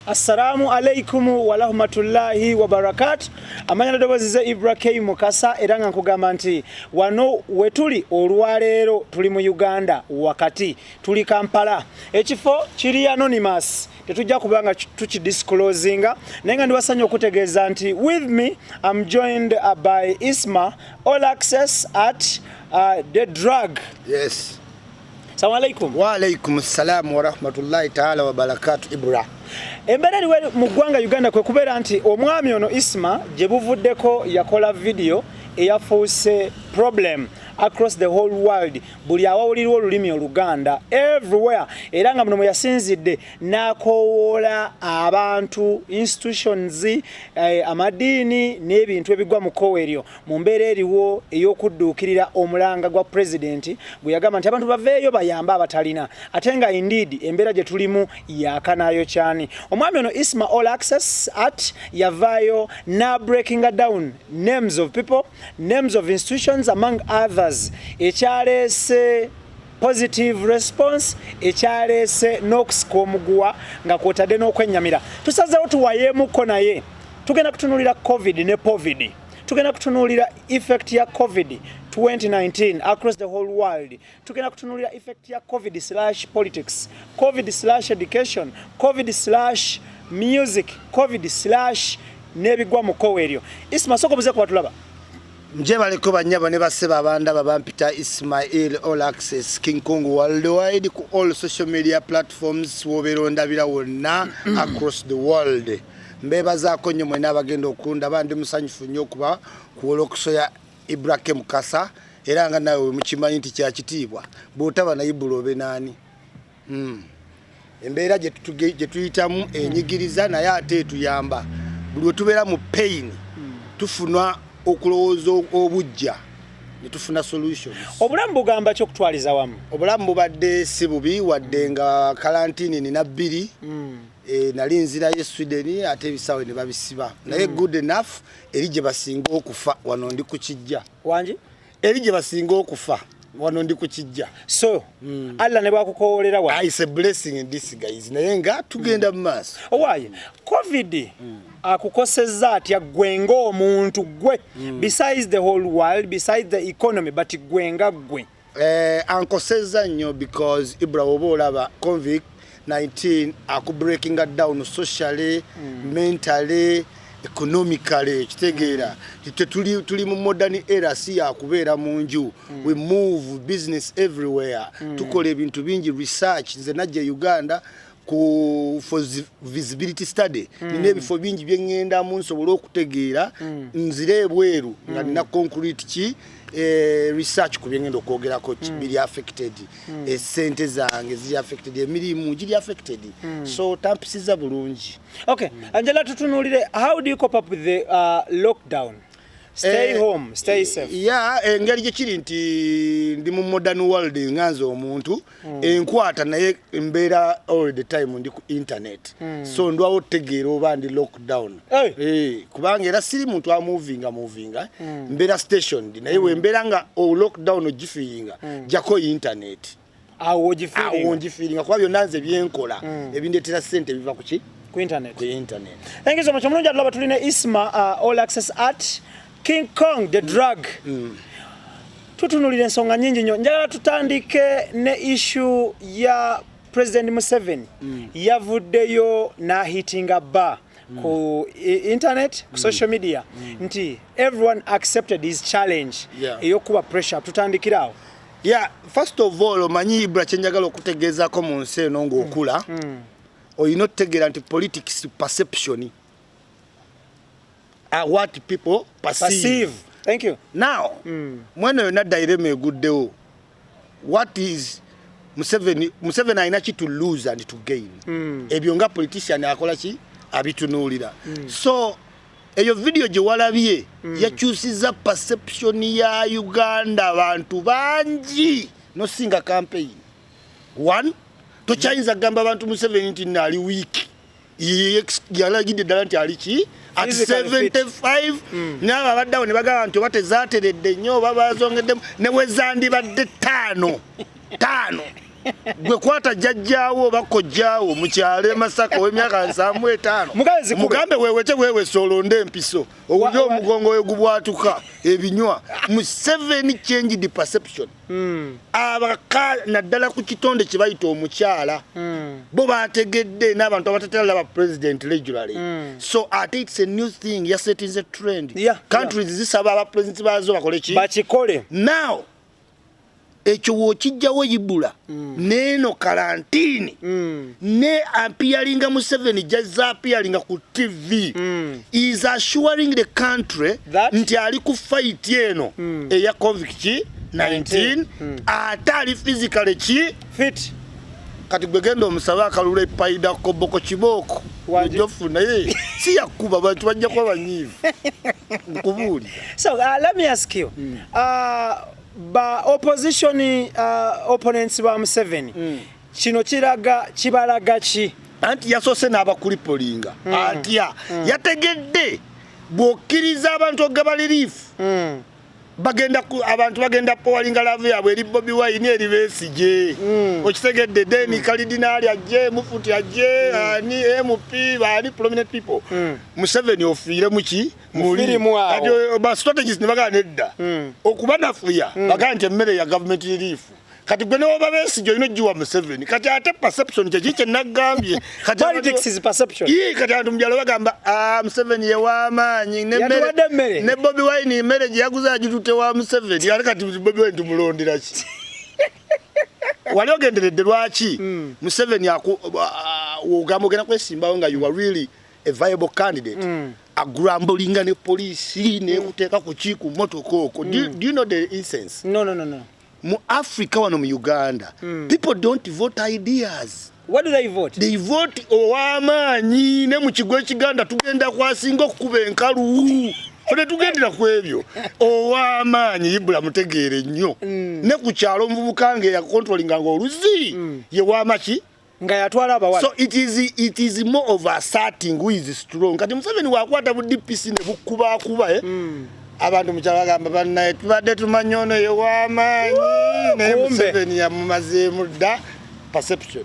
Assalamu alaikum warahmatullahi wabarakatu amanya nadobozi ze Ibra K Mukasa era nga nkugamba nti wano wetuli olwaleero tuli mu Uganda wakati tuli Kampala ekifo kiri anonymous tetujja kubanga tukidisclosinga naye nga ndiwasanya okutegeeza nti with me am joined uh, by Isma all access at uh, the drug yes Salamu alaikum. Wa alaikum salam wa rahmatullahi ta'ala wa barakatuh Ibra. Embera liwe mu gwanga Uganda kwe kubera nti omwami ono Isma gye buvuddeko yakola video eyafuuse problem across the whole world buli awawulirwa olulimi oluganda everywhere era nga muno mwe yasinzidde n'akoowoola abantu institutions eh, amadiini n'ebintu ebigwa mu kkowe eryo mu mbeera eriwo ey'okudduukirira omulanga gwa pulezidenti gwe yagamba nti abantu baveeyo bayambe abatalina ate nga indeed embeera gye tulimu yakanayo kyani omwami ono isma all access at yavaayo na breakinga down names of people names of institutions among others ekyaleese positive response ekyaleese n'okusika omuguwa nga kwotadde n'okwennyamira tusazeewo tuwayeemukko naye tugenda kutunulira covid ne povidi tugenda kutunuulira effect ya covid 2019 across the whole world tugenda kutunuulira effect ya covid slash politics covid slash education covid slash music covid slash n'ebigwa mu kowe eryo isma soko buze kuba tulaba njebaleko banyabo ne baseba abanda babampita ismail all access king kong worldwide ku all social media platforms wobeera ondabira wonna across the world mbebazaako nnyo mwena abagenda okundaba ndi musanyufu nnyo okuba kuwola okusoya ibrahim kasa era nga nawe wemukimanyi nti kyakitiibwa bwotaba naye bula obe naani hmm. embeera gyetuyitamu enyigiriza naye ate etuyamba buli wetubeera mu pain tufuna okulowooza obujja netufuna solutions obulamu bugamba ki okutwaliza wamu obulamu bubadde si bubi wadde nga kalantini nina bbiri hmm. Eh, nali nzirayo esweden ate ebisaawe ne babisiba naye hmm. good enough eri gye basinga okufa wano ndi ku kijja wangi eri gye basinga okufa wano ndi ku kijja so mm. allah ne bwakukowoolera wa is a blessing in this guys naye nga tugenda mu maaso hmm. owaaye covid mm. akukosezza atya gwe ng'omuntu gwe mm. besides the whole world besides the economy but gwe nga gwe Eh, ankosezza nnyo because ibra oba olaba convict 19 akubreakinga down socially mm. mentally economically kitegeera mm. tuli mu modern era si yakubeera mu nju mm. we move business everywhere mm. tukola ebintu bingi research nze najja e uganda ku for visibility study mm. nina ebifo bingi bye ŋŋendamu nsobole okutegeera mm. nzire ebweru mm. nga nina concrete ki eh, research ku bye ŋŋenda okwogerako mm. biri affected mm. esente eh, zange ziri affected emirimu giri affected mm. so tampisiza bulungi okay mm. angela tutunulire how do you cope up with the uh, lockdown stay eh, home stay safe ya yeah, engeri gye kiri nti ndi mu modern world nga nze omuntu mm. enkwata naye mbeera all the time ndi ku internet mm. so ndwawo otegeera oba ndi lockdown hey. Hey, eh, kubanga era siri muntu amovinga movinga mm. mbeera stationed naye mm. wembeera nga oh, lockdown ogifiinga mm. jako internet awo ngifiiringa kuba byonna nze byenkola mm. ebindetera sente biva kuki ku internet ku internet thank you so much omulungi atulaba tuli ne isma uh, all access art King Kong the drug mm. mm. tutunulira ensonga nyingi nnyo njagala tutandike ne issue ya president Museveni mm. yavuddeyo nahitinga ba mm. ku internet ku mm. social media mm. nti everyone accepted his challenge yeah. eyokuba pressure tutandikira awo yeah, first of all omanyi ibra kyenjagala okutegeezako mu nsi eno ngaokula mm. mm. olina okutegeera nti politics perception are what people perceive. perceive. Thank you. Now, mm. mweno yona daireme guddeo. What is Museveni Museveni alina ki to lose and to gain. Mm. Ebyo nga politician akola ki abitunuulira. Mm. So eyo video gye walabye mm. yakyusiza perception ya Uganda abantu bangi nosinga campaign. One, tokyayinza kugamba abantu Museveni nti nali weak. yalagidde ddala nti aliki at 75 mm. naabo abaddawo ne bagamba nti oba tezateredde nnyo oba bazongeddemu ne wezandibadde taano taano gwe kwata jajjaawo oba kojjaawo mu kyalo emasaka ow'emyaka nsanvu etaano mugambe wewete wewese olonde empiso owulire omugongo we gubwatuka ebinywa mu seven changed perception hmm. abaka naddala ku kitonde kye bayita omukyala hmm. bo bategedde n'abantu abatatera laba president regularly hmm. so ate it's a new thing yasettings a trend countries zisaba aba president baazo bakole ki bakikole now ekyo wokijjawo yibula mm. neeno kalantini mm. ne apiyalinga museveni jazza apiyalinga ku tv mm. is assuring the country That? nti ali ku fight eno mm. eya covid ki 19 mm. ate ali physically ki fit kati gwe genda omusabe akalula epaida koboko kibooko ojofu naye si yakuba bantu bajja kuba banyiivu nkubuulira so uh, let me ask you mm. uh, ba opposition uh, opponents ba museveni mm. kino kiraga kibalaga ki anti yasoose n'abakulipolinga mm. atya mm. yategedde bw'okkiriza abantu okugaba liriifu mm. bagenda abantu bagenda powalinga laavu yaabwe eri bobi wayini eri besigye mm. okitegedde deni mm. kalidinaali ajje mufuti ajje mm. ani mp baani prominent people mm. museveni ofiire muki mulimubasitategisi eh, ne bagaa nedda mm. okubanafuya mm. bagaa nti emmere ya gavumenti liriifu kati gwe newoba besigye olina ogiwa museveni kati ate perception kyeki kyenagambye kati abantu mubyalo bagamba ah, museveni yewamaanyi ne bobi wine emere gyeyaguze agitute wa museveni ate kati bobi wine tumulonderaki wali ogenderedde lwaki hmm. museveni ah, ogamba ogenda kwesimbawo nga you are really a viable candidate mm. agrambulinga ne poliisi nekuteeka ku ki ku motoka oko do, mm. do you know the incense no, no, no, no. mu africa wano mu uganda mm. people don't vote ideas What do they vote? They vote ow'amaanyi ne mu kigo ekiganda tugenda kwasinga okukuba enkalu fene tugendera ku ebyo ow'amaanyi ibula mutegeere nnyo mm. ne ku kyalo omuvubuka nga eyakontrolinga nga oluzi mm. ye wamaki nga yatwala abawala so it is it is more of asserting who is strong kati museveni wakwata bu DPC ne bukuba kuba eh mm. abantu mukyabagamba bannaye tubadde tumanyi ono ye w'amaanyi naye museveni yamumazeemu dda perception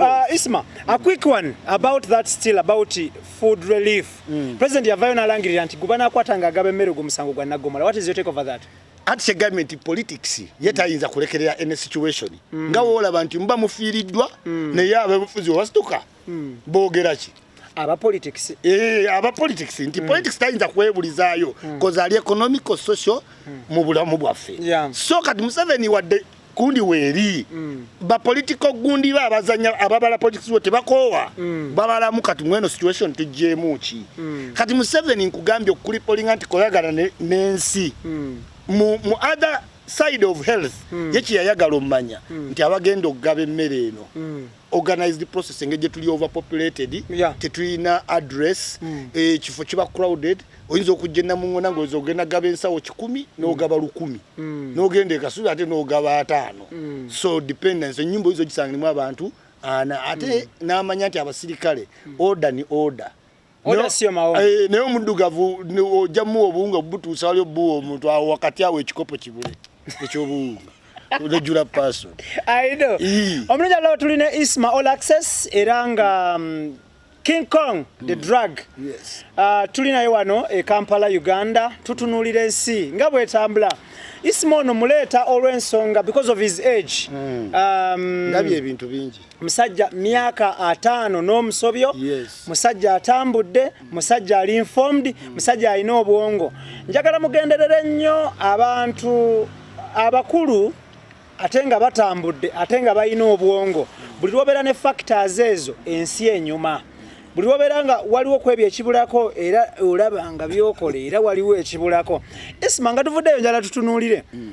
ah, isma a quick one about that still about food relief mm. president yavayo nalangirira nti gubanakwata nga agaba emmere ogwo musango gwa naggomola what is your take over that anti kyegambye nti politics ye tayinza kulekerera any situation mm. nga woolaba nti muba mufiiriddwa mm. naye abebufuzi webasituka mm. boogera ki aba politics eh aba politics nti mm. politics tayinza kwebulizaayo mm. koza ali economical social mm. mu bulamu bwaffe yeah. so kati museveni wadde kundi weeri mm. bapolitical gundi ba abazanya ababala politics wo tebakoowa mm. babalamu kati mweno situation tujjeemu ki mm. kati museveni nkugambye okukulipolinga nti koyagala n'ensi mm. mu, mu other side of health mm. yekiyayagala omumanya mm. nti abagenda okugaba emmere eno mm. organized process engeri gyetuli overpopulated yeah. tetulina address mm. ekifo eh, kiba crowded oyinza okujja enamuŋona ngaoyinza okugenda gaba ensawo kikumi mm. nogaba lukumi mm. nogenda ekasubi ate nogaba ataano mm. so dependence enyumba oyinza ogisangirimu abantu ana ate mm. namanya nti abasirikale mm. order ni order Eh, naye omuddugavu ojja muwa obuwunga obutuusa wali obuwa omuntu awo wakati awo ekikopo kibule ekyobuwunga regular person i know omulungi alaba tuli ne isma all access era nga mm, king kong the hmm. drug yes. uh, tuli naye wano e kampala uganda tutunuulira ensi nga bwetambula isma ono muleeta olw'ensonga because of his age hmm. um, ndabye ebintu bingi musajja myaka ataano n'omusobyo yes. musajja atambudde musajja ali informed mm. musajja alina obwongo njagala mugenderere nnyo abantu abakulu ate nga batambudde ate nga balina obwongo buli lwobeera ne factors ezo ensi enyuma buli lwobeera nga waliwo kwebyo ekibulako era olaba nga byokola era waliwo ekibulako isma nga tuvuddeyo njala tutunuulire mm.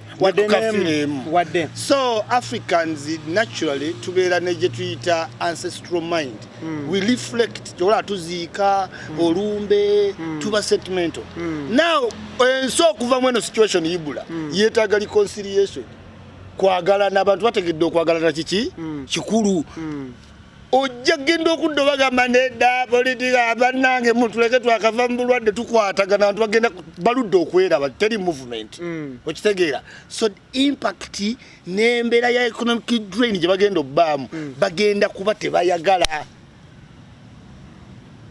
wadde nemu wadde so africans naturally tubeera ne gye tuyita ancestral mind mm. we reflect kyobola tuziika mm. olumbe mm. tuba sentimental mm. now ensi eh, okuva mu eno situation ibula mm. yeetaaga reconciliation kwagalana abantu bategedde okwagalana kiki mm. kikulu mm. ojja genda okudda obagamba nedda politika abanange mutuleke twakava mu bulwadde tukwatagana bantu bagenda baludde okweraba teri movement mm. okitegeera so impact n'embeera ya economic drain gye bagenda obbaamu mm. bagenda kuba tebayagala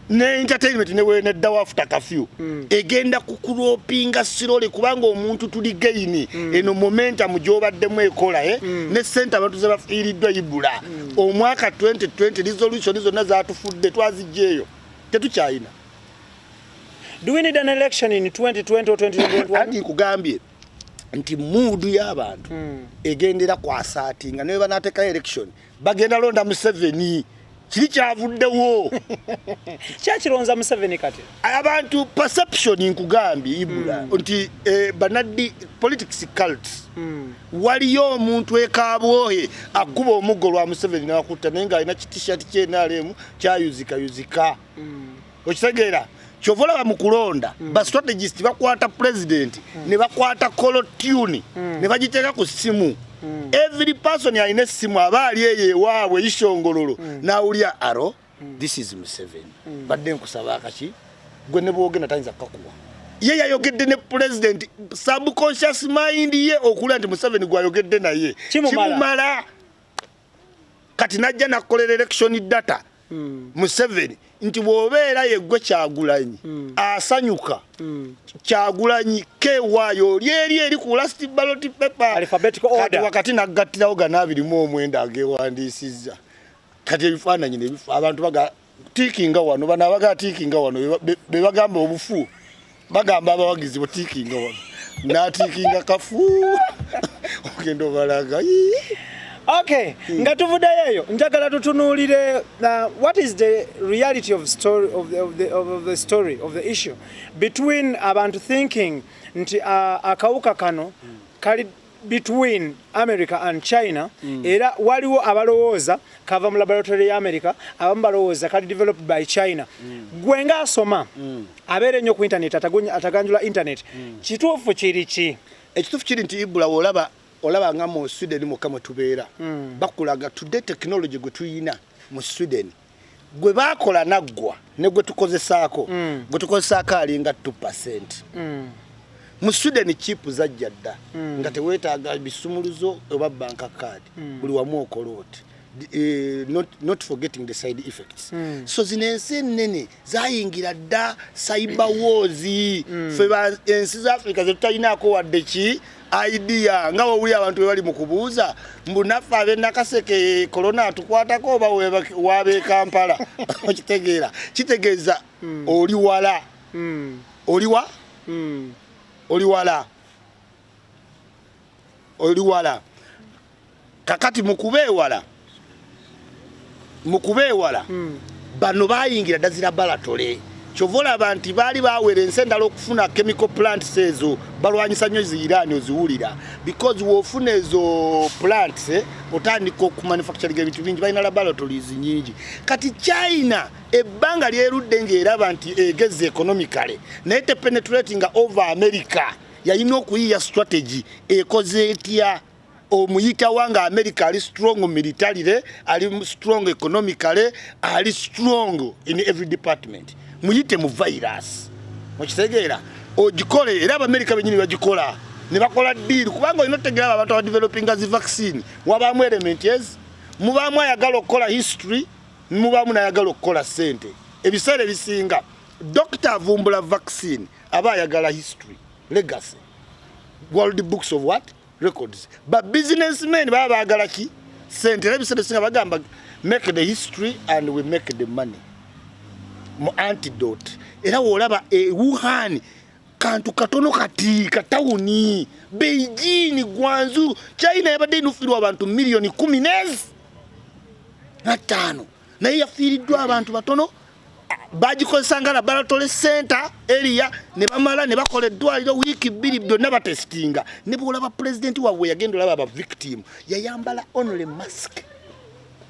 ne entertainment ne we ne dawa after kafyu mm. egenda kukulopinga sirole kubanga omuntu tuli gaini mm. eno momentum jobadde mu ekola eh mm. ne center abantu ze bafiridwa ibula mm. omwaka 2020 resolution izo na za tufudde twazijeyo tetu chaina do we need an election in 2020 or 2021 ati kugambye nti mood ya abantu mm. egendera kwa sati nga ne banateka election bagenda londa museveni kiri kyavuddewo kyakironza museveni kati abantu perception nkugambye ibula mm. nti eh, banaddi politics cult mm. waliyo omuntu ekabwohe akuba omuggo lwa museveni nakutta naye ng'alina kitishat kyenalemu kyayuzikayuzika mm. okitegeera kyova olaba mu kulonda mm. ba strategist bakwata president mm. ne bakwata colo tune mm. ne bagiteeka ku ssimu mm. every person alina essimu aba ali eyo ewaabwe ishongololo mm. nawulya aro mm. this is museven mm. badde nkusaba akaki gwe ne bwogenda tayinza kukakuwa ye yayogedde ne president subconscious mind ye okulira nti museven gwayogedde naye kimumala kati najja nakukolera election data mm. museveni nti bwobeera yeggwe kyagulanyi mm. asanyuka mm. kyagulanyi kewaayo oli eri eri ku last ballot paper kati wakati nagattirawo gana abirimu omwenda agewandiisizza kati ebifaananyi abantu baga tiikinga wano bano abagala tiikinga wano be bagamba obufu bagamba abawagizi bo tiikinga wano natiikinga kafu ogenda obalaga okay hmm. nga tuvuddeyo eyo njagala tutunuulire uh, what is the reality of story of the, of the, of the story of the issue between abantu thinking nti uh, akawuka kano hmm. kali between America and China mm. era waliwo abalowooza kava mu laboratory ya America abamu balowooza kali developed by China mm. gwe nga asoma mm. abeera ennyo ku internet ataganjula internet mm. kituufu kiri ki ekituufu kiri nti ibula olaba olaba nga mu Sweden mukka mwe tubeera mm. bakulaga today technology gwe tuyina mu Sweden gwe baakola naggwa ne gwe tukozesaako mm. gwe tukozesaako alinga 2 percent mm. mu sweden chipu zajja dda mm. nga teweetaaga bisumuluzo oba banka card mm. buli wamu okola oti Uh, not, not forgetting the side effects mm. so zino ensi ennene zayingira dda cyber wars mm. fe ensi za africa zetutalinaako wadde ki idea nga wawulira abantu bebali mu kubuuza mbu naffe abenakaseke kolona atukwatako oba wabe kampala okitegeera kitegeeza hmm. oli wala hmm. oli wa hmm. oli wala oli wala kakati mukubeewala mukubeewala hmm. bano bayingira dazira balatole kyova olaba nti baali bawera ensi endala okufuna chemical plants ezo balwanyisa nnyo ziiraani oziwulira because wofuna ezo plants eh, otandika okumanufacturing ebintu bingi balina laboratories nyingi kati china ebbanga lyerudde ngaeraba nti egeza economically naye tepenetratinga over america yalina okuyiya strategy ekoze etya omuyitawa nga america ali strong militarily ali strong economically ali strong in every department muyite mu virus mukitegeera ogikole era abamerica benyini bagikola ne bakola deal kubanga olina otegeera abo abantu abadevelopinga zi vaccine wabaamu element ez mubaamu ayagala okukola history mubaamu nayagala okukola sente ebiseera ebisinga dokita avumbula vaccine aba ayagala history legacy world books of what records ba businessmen baba bagala ki sente era ebiseera ebisinga bagamba make the history and we make the money mu antidote era wolaba e wuhan kantu katono kati katawuni beijing gwanzu china yabadde inufirwa abantu milioni kumi nezi na tano naye yafiiriddwa abantu batono bagikozesa nga laboratory center area ne bamala ne bakola eddwaliro wiiki bbiri byonna batesitinga ne bwolaba pulezidenti waabwe yagenda olaba aba victim yayambala only mask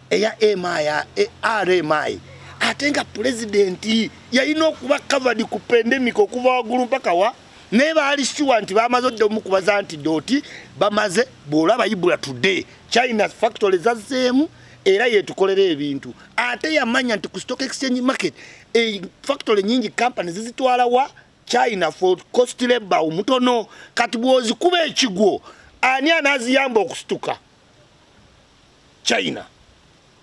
eya mi e rmi ate nga pulezidenti yalina okuba covered ku pandemic okuva waggulu mpaka wa naye baali sure nti bamaze odda omukubaza nti doti bamaze bwolaba ibula today china factory zazzeemu era yetukolera ebintu ate yamanya nti ku stock exchange market e factory nyingi company zizitwala wa china for cost labor omutono kati bwozikuba ekigwo ani anaziyamba okusituka china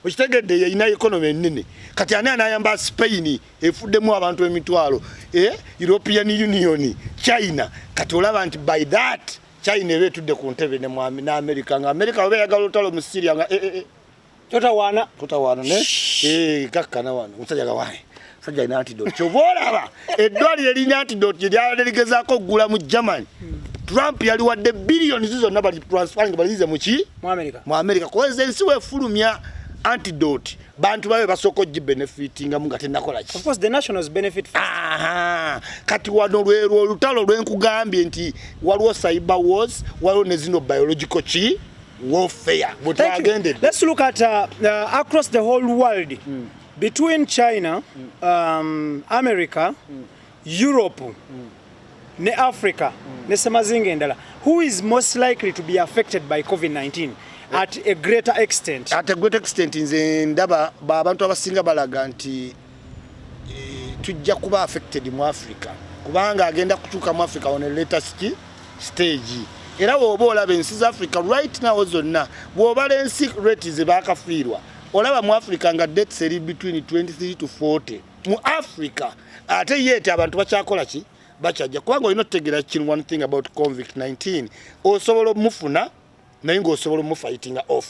okitegedde yeyina economy enene kati ani anayamba spain efuddemu abantu emitwalo e european union china kati olaba nti by that China ebe tudde ku ntebe ne mwami na America nga America obe yagala otalo mu Syria nga eh eh, eh. tota wana tota wana ne eh kakka na wana musaja gawaye sajja ina antidote kyova olaba eddwaliro erina antidote lye lyala ligezaako okugula mu germany trump yali wadde billions zonna bali transferring balizize muki mu america kuba ensi wefulumya antidote bantu babe basooka ogibenefitingamu nga tenakola ki kati wano lwerwo olutalo lwenkugambye nti waliwo cyber wars waliwo ne zino biological ki warfare bwetwagendede let's look at uh, uh, across the whole world mm. between china mm. um, america mm. Europe mm. ne Africa mm. ne semazinga endala who is most likely to be affected by COVID-19 at a greater extent at a greater extent nze ndaba abantu abasinga balaga nti eh, tujja kuba affected mu Africa kubanga agenda kutuuka mu Africa on a later stage era woba olaba ensi za Africa right now zonna bwobala ensi rate zebakafiirwa olaba mu Africa nga dates eri between 23 to 40 mu Africa ate yete abantu bakyakola ki bakyajja kubanga olina otutegeera kinu one thing about convict 19 osobola omufuna naye ngaosobola omufighting off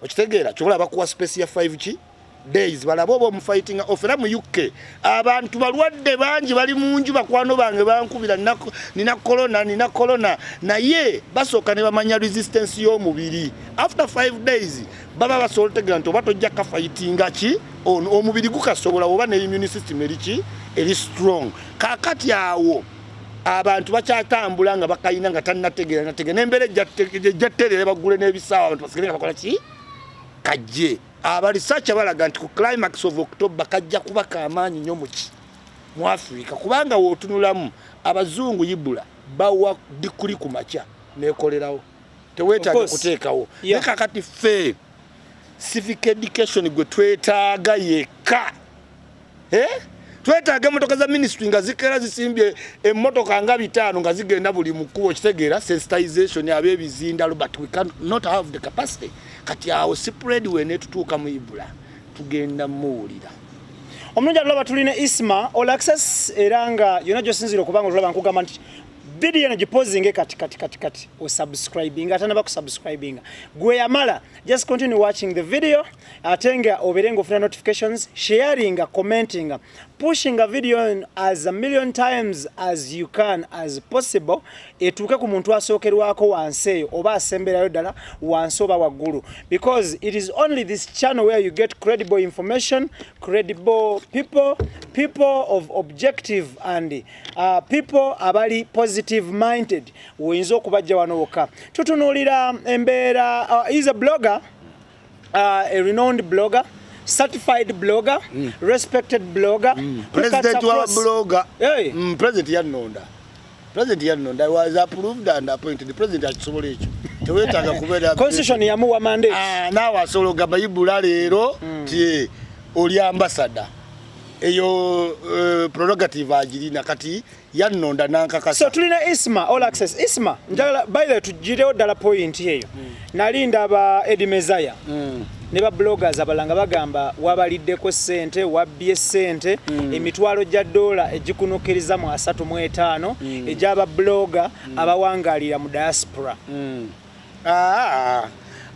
okitegeera kyobola bakuwa space ya 5 ki days balaba oba omufighting off era mu uk abantu balwadde bangi bali mu nju bakwano bange bankubira nina corona nina corona naye basooka ne bamanya resistance y'omubiri after 5 days baba basobola otegera nti oba tojja kafayitinga ki omubiri gukasobola oba ne immune system eriki eri strong kakati awo abantu bakyatambula nga bakayina nga tanategera nategera nembeera ejjattereera bagule n'ebisaawa abantu basigale nga bakola ki kajje abalisaki abalaga nti ku climax of october kajja kuba kamaanyi nyo muki mu africa kubanga wotunulamu abazungu ibula bawa dikuli ku makya nekolerawo teweetaaga okuteekawo naye kakati ffe civic education gwe twetaaga yekka eh? twetaaga emotoka za ministry nga zikera zisimbye emotoka nga bitaano nga zigenda buli mukubo kitegeera sensitization abebizinda but we can not have the capacity kati awo spread wene tutuuka mu ibula tugenda muwulira omulungi atulaba tulina isma olaxes era nga yona gyosinzira okubanga otulaba nkugamba nti video eno gipozinge kati kati kati kati osubscribinga ate naba kusubscribinga gwe yamala just continue watching the video ate nga obeere nga ofuna notifications sharinga commentinga pushinga video eno as a million times as you can as possible etuuke ku muntu asookerwako wansi eyo oba asemberayo ddala wansi oba waggulu because it is only this channel where you get credible information credible people people of objective and uh, people abali positive minded oyinza okubajja wano wokka tutunuulira embeera uh, is a blogger uh, a renowned blogger certified blogger mm. respected blogger mm. president wa blogger hey. mm, president yannonda president yannonda was approved and appointed president akisobola ekyo tewetaaga kubeera constitution yamuwa mandate ah, naawe asobola ogamba ibula leero mm. ti oli ambasada eyo uh, prerogative agirina kati yannonda nankakasa so tulina isma all access isma mm. njagala by the tugirewo ddala point eyo mm. nali ndaba edi mezaya mm. ne ba bloggers abalanga bagamba wabaliddeko sente wabbye sente mm. emitwalo gya dola egikunukiriza mu asatu mu etaano mm. egyaba blogger mm. abawangalira mu diaspora mm. Ah,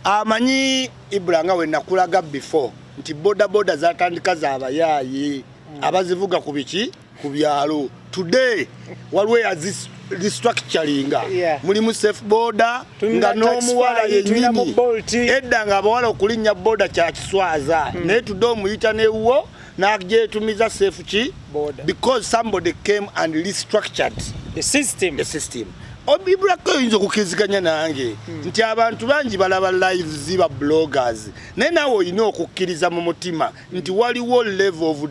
amanyi ibula nga wenakulaga before nti bodaboda zatandika zabayaayi mm. abazivuga ku biki ku byalo today waliwo yazis restructuringa yeah. mulimu safe boda nga n'omuwala yenyini edda nga abawala okulinnya boda kyakiswaza mm. naye tude omuyita newuwo najetumiza safe ki border because somebody came and restructured the system the system obibulako oyinza okukiriziganya nange hmm. nti abantu bangi balaba lives ba bloggers naye nawe olina okukkiriza mu mutima nti waliwo level of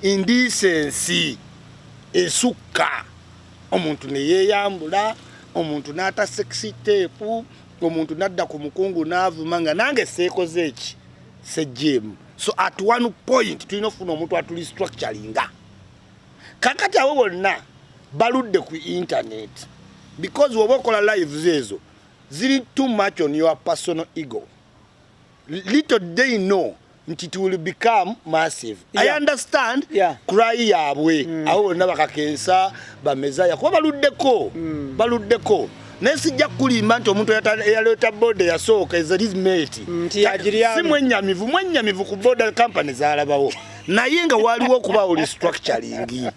indecency esukka omuntu neyeyambula omuntu n'ata sexy tape omuntu n'adda ku mukungu n'avuma nga nange seekoze eki sejjeemu so at one point tulina okufuna omuntu atuli structuringa kakati abo bonna baludde ku internet because woba okola lives ezo ziri too much on your personal ego little day know nti it will become massive yeah. i understand yeah. cry yabwe mm. abo bonna bakakensa bamezaya kuba baluddeko mm. baluddeko naye sijja kukulimba nti omuntu eyaleeta boda yasooka ezerismeti si mwenyamivu mwenyamivu ku boda company zalabawo naye nga waliwo okubaawo restructuring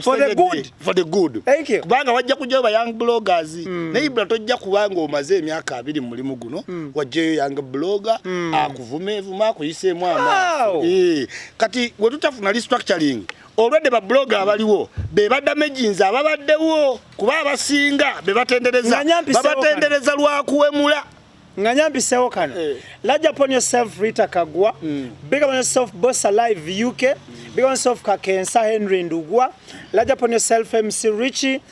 for the good for the good thank you kubanga wajja kujja ba young bloggers mm. naye bula tojja kubanga omaze emyaka abiri mu mulimu guno mm. wajja yo young blogger mm. akuvume vuma akuyise mwa wow. e. Eh, kati wetutafuna restructuring olwedde ba blogger abaliwo be badamaginzi ababaddewo kuba abasinga be batendereza babatendereza lwa kuwemula nga nyampisewo kano eh. large upon yourself rita kagwa mm. big upon yourself boss alive uk mm. big upon yourself kakensa henry ndugwa large upon yourself mc richie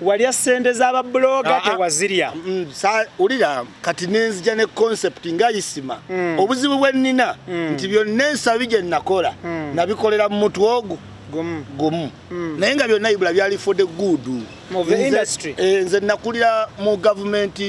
walya sente za ba blogger ah, ah. tewazirya mm, sa ulira kati nenzija ne concept nga isima mm. obuzibu bwe nina mm. nti byonna ensabi gye nakola mm. nabikolera mu mutwe ogwo gumu gumu mm. naye nga byonna ibula byali for the good of the industry eh, nze nakulira mu government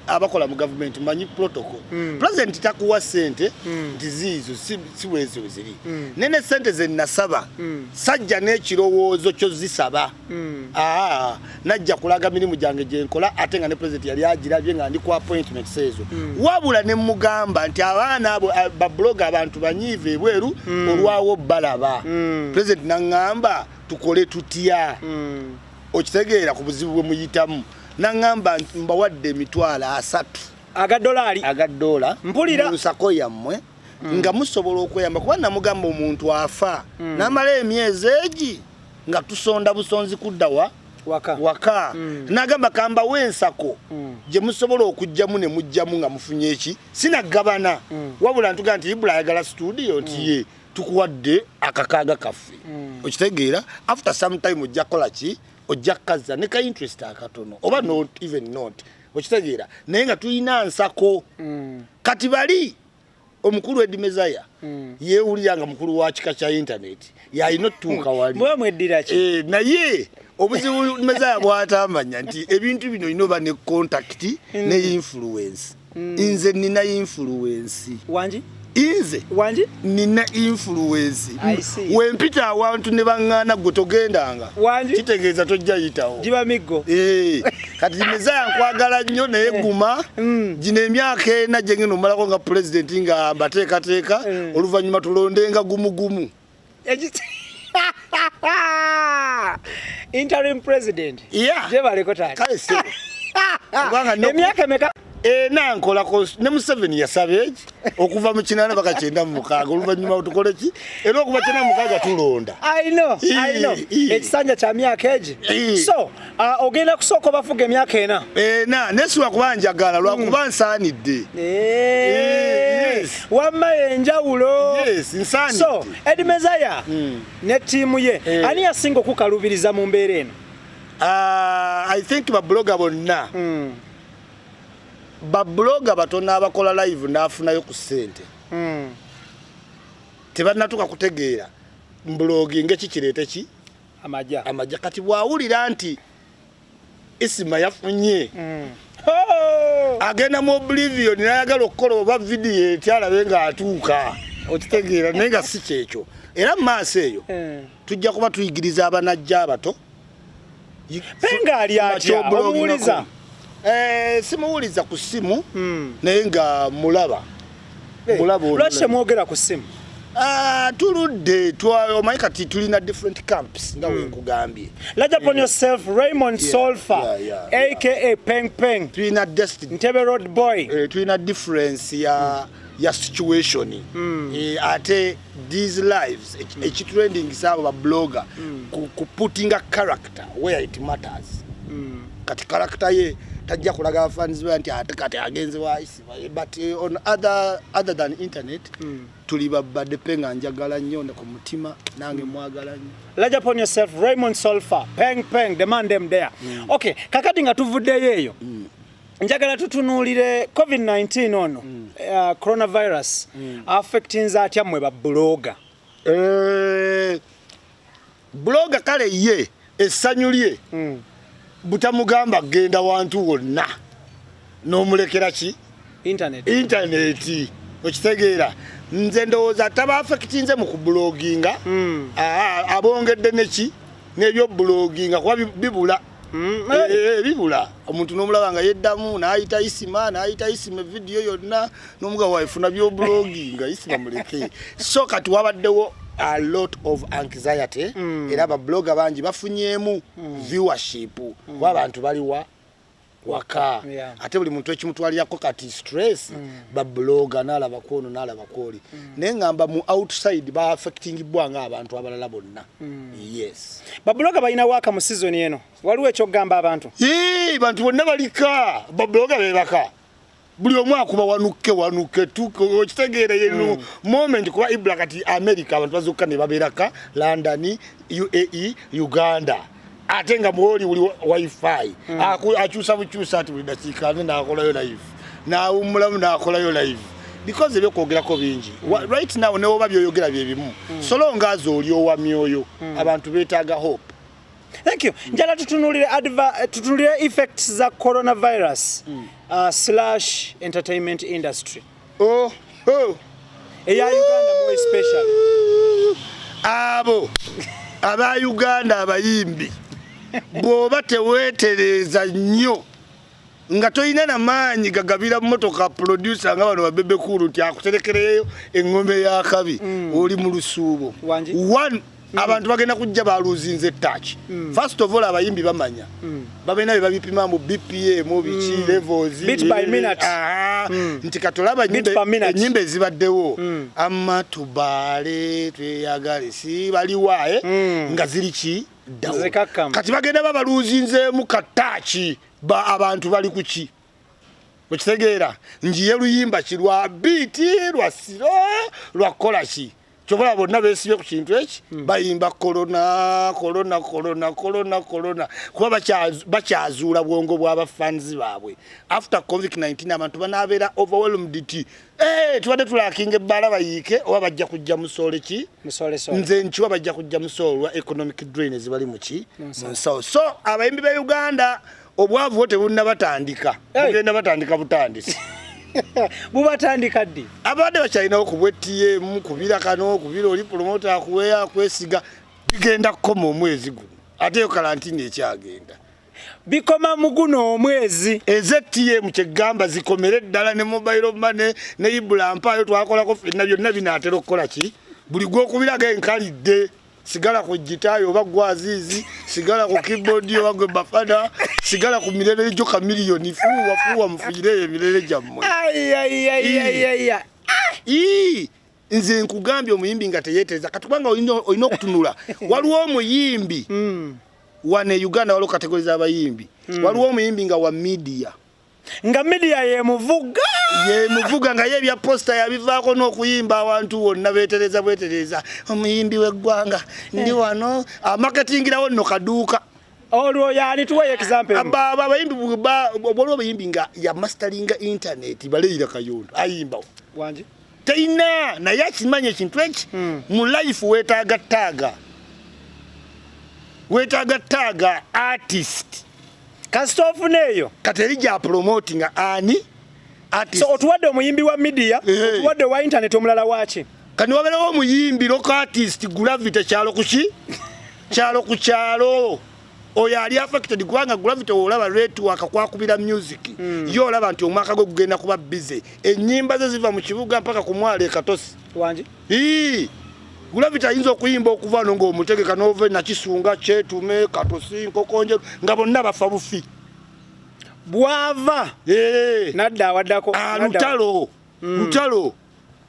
abakola mu government manyi protocol mm. president takuwa sente mm. nti ziizo si bwezo ziri mm. nene sente ze nasaba mm. sajja n'ekirowoozo kyo zisaba Mm. Ah, najja kulaga mirimu gyange gyenkola ate nga ne president yali agirabye nga ndi ku appointments ezo mm. wabula ne mugamba nti abaana abo ah, babuloga abantu banyiive ebweru mm. olwawo balaba mm. president naŋŋamba tukole tutya mm. okitegeera ku buzibu bwe muyitamu naŋŋamba mbawadde emitwalo asatu aga dolaari aga dola mpulira nsako yammwe mm. nga musobola okweyamba kuba namugamba omuntu afa mm. namala emyezi egi nga tusonda busonzi kudda wa waka, waka. Mm. nagamba kamba wensako mm. gye musobola okujjamu ne mujjamu nga mufunye eki sinagabana mm. wabula ntuga nti ibula ayagala studio nti mm. ye tukuwadde akakaaga kaffe mm. okitegeera after some time ojja kukola ki ojja kukazza ne ka interest akatono oba not even not okitegeera naye nga tulina nsako mm. kati bali omukulu edi mezaya mm. yewulira nga mukulu wa kika kya internet yalina otutuuka wali e, naye obuzibu mezaya bwatamanya nti ebintu bino olina oba ne contact mm. ne influence mm. nze nina influence wangi inze wangi nina influence wempita awantu ne baŋŋaana gwe togendanga kitegeeza tojja yitawo giba miggo eh. kati mizaya nkwagala nnyo naye eh. guma mm. gino emyaka ena gyengenda omalako nga pulezidenti nga mbateekateeka eh. oluvannyuma tulondenga gumugumu interim president yeah. jebaleko taata kale sebo emyaka emeka ena nkola ne museveni yasaba eki okuva mu kinana baka kyenda mu mukaaga oluvannyuma otukole ki era okuva kyenda mu mukaaga tulonda ekisanja kya myaka egi so uh, ogenda kusooka obafuga emyaka ena ena naye siwa kuba njagala lwakuba mm. nsaanidde wamma yenjawulo so edi mezaya mm. ne tiimu ye eh. ani yasinga okukalubiriza mu mbeera eno ah, i think babuloga bonna mm. babuloga batono abakola live nafunayo ku sente hmm. tebanatuka kutegeera mbulogi ngeki kireete ki amaja amaja kati bwawulira nti isima yafunye hmm. agenda mu oblivion nayagala okukola oba vidiyo etyalabe nga atuuka okitegeera naye nga si kyekyo era mu maaso eyo hmm. tujja kuba tuyigiriza abanajja abato penga ali atya omuwuliza eh simuwuliza ku simu hmm. naye nga mulaba eh, mulaba lwaki temwogera ku simu Uh, tuludde omanyi kati tulina different camps nga hmm. wenkugambye laja pon eh. yourself raymond yeah, solfa yeah, yeah, aka yeah. peng peng tulina destiny ntebe road boy uh, tulina difference ya mm. ya situation mm. e, ate these lives mm. ekitrending saabo ba blogger mm. ku, ku putting a character where it matters mm. kati character ye tajja kulaga abafaanizi be nti ate kati agenze waisi but uh, on other, other than internet mm. tuli babadde pe nga njagala nnyo ne ku mutima nange mm. mwagala nnyo large upon yourself raymond solfa peng peng the man them there mm. okay kakati nga tuvuddeyo eyo mm. njagala tutunuulire covid-19 ono mm. uh, coronavirus mm. affectinze atya mmwe babuloga e, eh, buloga kale ye essanyu lye mm. butamugamba kugenda wantu wonna n'omulekera ki intaneti okitegeera nze ndowooza taba affectinze mu kubuloginga mm. abongedde neki n'ebyobuloginga kuba bibula Mm, eh, eh, eh, bibula omuntu nomulaba nga yeddamu nayita isima nayita isima evidiyo yonna nomuga waifuna byoblogi nga isima muleke so kati wabaddewo a lot of anxiety mm. era babloga bangi bafunyemu mm. viewership mm. wa bantu baliwa waka yeah. ate buli muntu ekimutwalirako kati stress mm. babloga nalaba kwono nalaba kwoli mm. naye ngamba mu outside ba affecting bwa nga abantu abalala bonna Mm. Yes. Babuloga balina waka mu season eno. Waliwo ekyogamba abantu. Yee, bantu bonna balika. Babuloga bebaka. Buli omu akuba wanukke wanukke tuko okitegeera yenu mm. moment kuba Ibra kati America abantu bazokka ne babeeraka London, UAE, Uganda. ate nga mwoli uli wifi mm. akyusa bukyusa ati buli dakiika ate nakolayo live nawumulamu nakolayo live because ebyokwogerako bingi mm. right now newoba byoyogera byebimu mm. solonga azo oli owa myoyo mm. abantu betaaga hope thank you mm. njala tutunulire tutunulire effects za coronavirus mm. uh, slash entertainment industry oh, oh. eya uganda more special abo aba uganda abayimbi bw'oba teweetereeza nnyo nga tolina na maanyi gagabira motoka producer nga bano babebe kuulu nti akuterekereyo eŋŋombe y'akabi mm. oli mu lusuubo Mm. abantu bagenda kujja baluzinze etaaki mm. first of all abayimbi bamanya mm. babena be babipima mu bpm biki mm. levels bit by minute ah, mm. nti katolaba enyimba ezibaddewo mm. ama tubale tweyagale si baliwa eh? mm. nga ziri ki kati bagenda babaluzinzemu kataaki ba abantu bali kuki okitegeera njiye luyimba ki lwa biiti lwa siro lwa kolaki kyobola bonna besibye ku kintu eki hmm. bayimba kolona kolona kolona kolona kolona kuba bakyazuula bwongo bwabafans baabwe after convic 19 abantu banabeera overwhelmed ti eh, tubadde tulakinga ebbaala bayiike oba bajja kujja musoole ki nze nkiwa bajja kujja musoolwa economic drain ezibali muki munsawo so abayimbi be uganda obwavu bwo tebunnabatandika bugenda batandika butandisi bubatandika ddi abadde bakyalinawo ku bwetiyemu kubira kano kubira oli pulomota akuweya akwesiga bigenda kukoma omwezi guno ate yo kalantini ekyagenda bikoma muguno omwezi eztm kyegamba zikomere ddala ne mobile mane ne ibula mpaayo twakolako fenna byonna binaatera okukola ki buli gwokubiraga enkalidde sigala ku gitayi oba gwe aziizi sigala ku keyboard oba gwe bafada sigala ku mirere gyo kamiliyoni fuuwa fuuwa mufuyire eyo emirere gyammwe nze nkugambye omuyimbi nga teyetereza kati kubanga olina okutunula waliwo omuyimbi hmm. wane uganda waliwo kategori zabayimbi hmm. waliwo omuyimbi nga wa midiya nga media yemuvuga yemuvuga nga yebya posta yabivaako n'okuyimba awantu wonna betereza bwetereza omuyimbi w'eggwanga ndi eh. wano amaketingirawo ah, nno kaduuka olwo yani tuwa example aba aba bayimbi ba obolo bayimbi nga ya mastering internet baleyira kayondo ayimba wanje teyina naye akimanyi ekintu eki hmm. mu life wetaaga taaga wetaaga taaga artist kasita ofuna eyo kati eri gya promotinga ani artist so otuwadde omuyimbi wa media eh. otuwadde wa internet omulala waki kani wabeerawo omuyimbi loko artist gravity kyalo kuki kyalo ku kyalo oyo ali affected kubanga gravity olaba retu akakwakubira music mm. yo olaba nti omwaka gwe gugenda kuba busy enyimba ze ziva mu kibuga mpaka ku mwale katosi wanje ii gravity ayinza okuyimba okuva no ng'omutegeka nove nakisunga kyetume katosi nkokonje nga bonna bafa bufi bwava nadda awaddako alutalo ah, mm. lutalo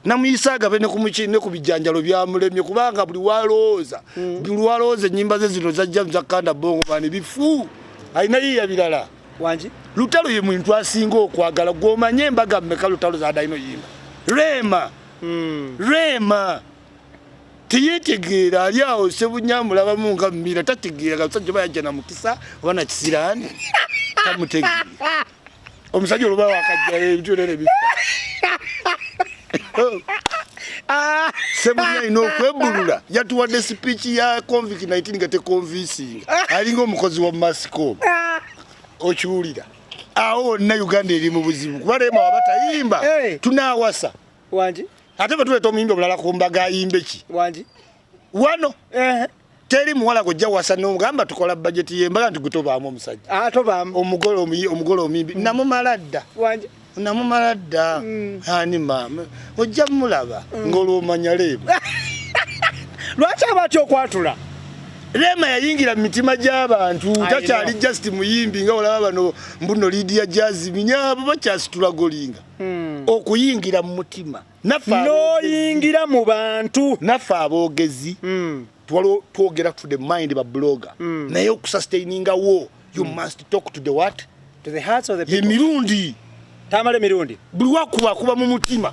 namuyisa agabe ne ku bijjanjalo byamulemye kubanga buli walowooza hmm. buli walowooza ennyimba ze zino zajja zakanda bongo bani bifu alina yiya birala wangi lutalo ye muntu asinga okwagala gwomanye embaga mmeka lutalo zadalina oyimba rema hmm. rema teyetegeera ali awo sebunyamulabamu nga mumira tategeera gasajja bayajja na mukisa oba nakisiraani tamutegeera omusajja oluba wakajja ebintu nene bifa ah. sebunya ina okwebulula yatuwadde sipiiki ya convict 19 nga tekonvinsinga ah. alinga omukozi wa mascom ah. okiwulira awo wonna uganda eri mu buzibu kuba lema waba tayimba tunawasa ate bwe tuleeta omuyimbi omulala ku mbaga ayimbe ki wano eh teri muwala gojja wasa no gamba tukola budget ye mbaga nti gutobaamu omusajja ah tobaamu omugole omuyi omugole omimbi mm. namumaladda wanje namumaladda mm. ani mama ojja mulaba mm. ngolwo manya lebo lwaki abati okwatula Rema yayingira mu mitima gy'abantu takyali just muyimbi nga olaba bano mbuno Lydia Jazz minyabo bakyasitula golinga hmm. okuyingira mu mutima noyingira mu bantu naffe aboogezi mm. twogera to the mind ba blogger mm. naye okusustaininga wo you mm. must talk to the what to the hearts of the people emirundi tamale mirundi buli wakuba kuba mu mutima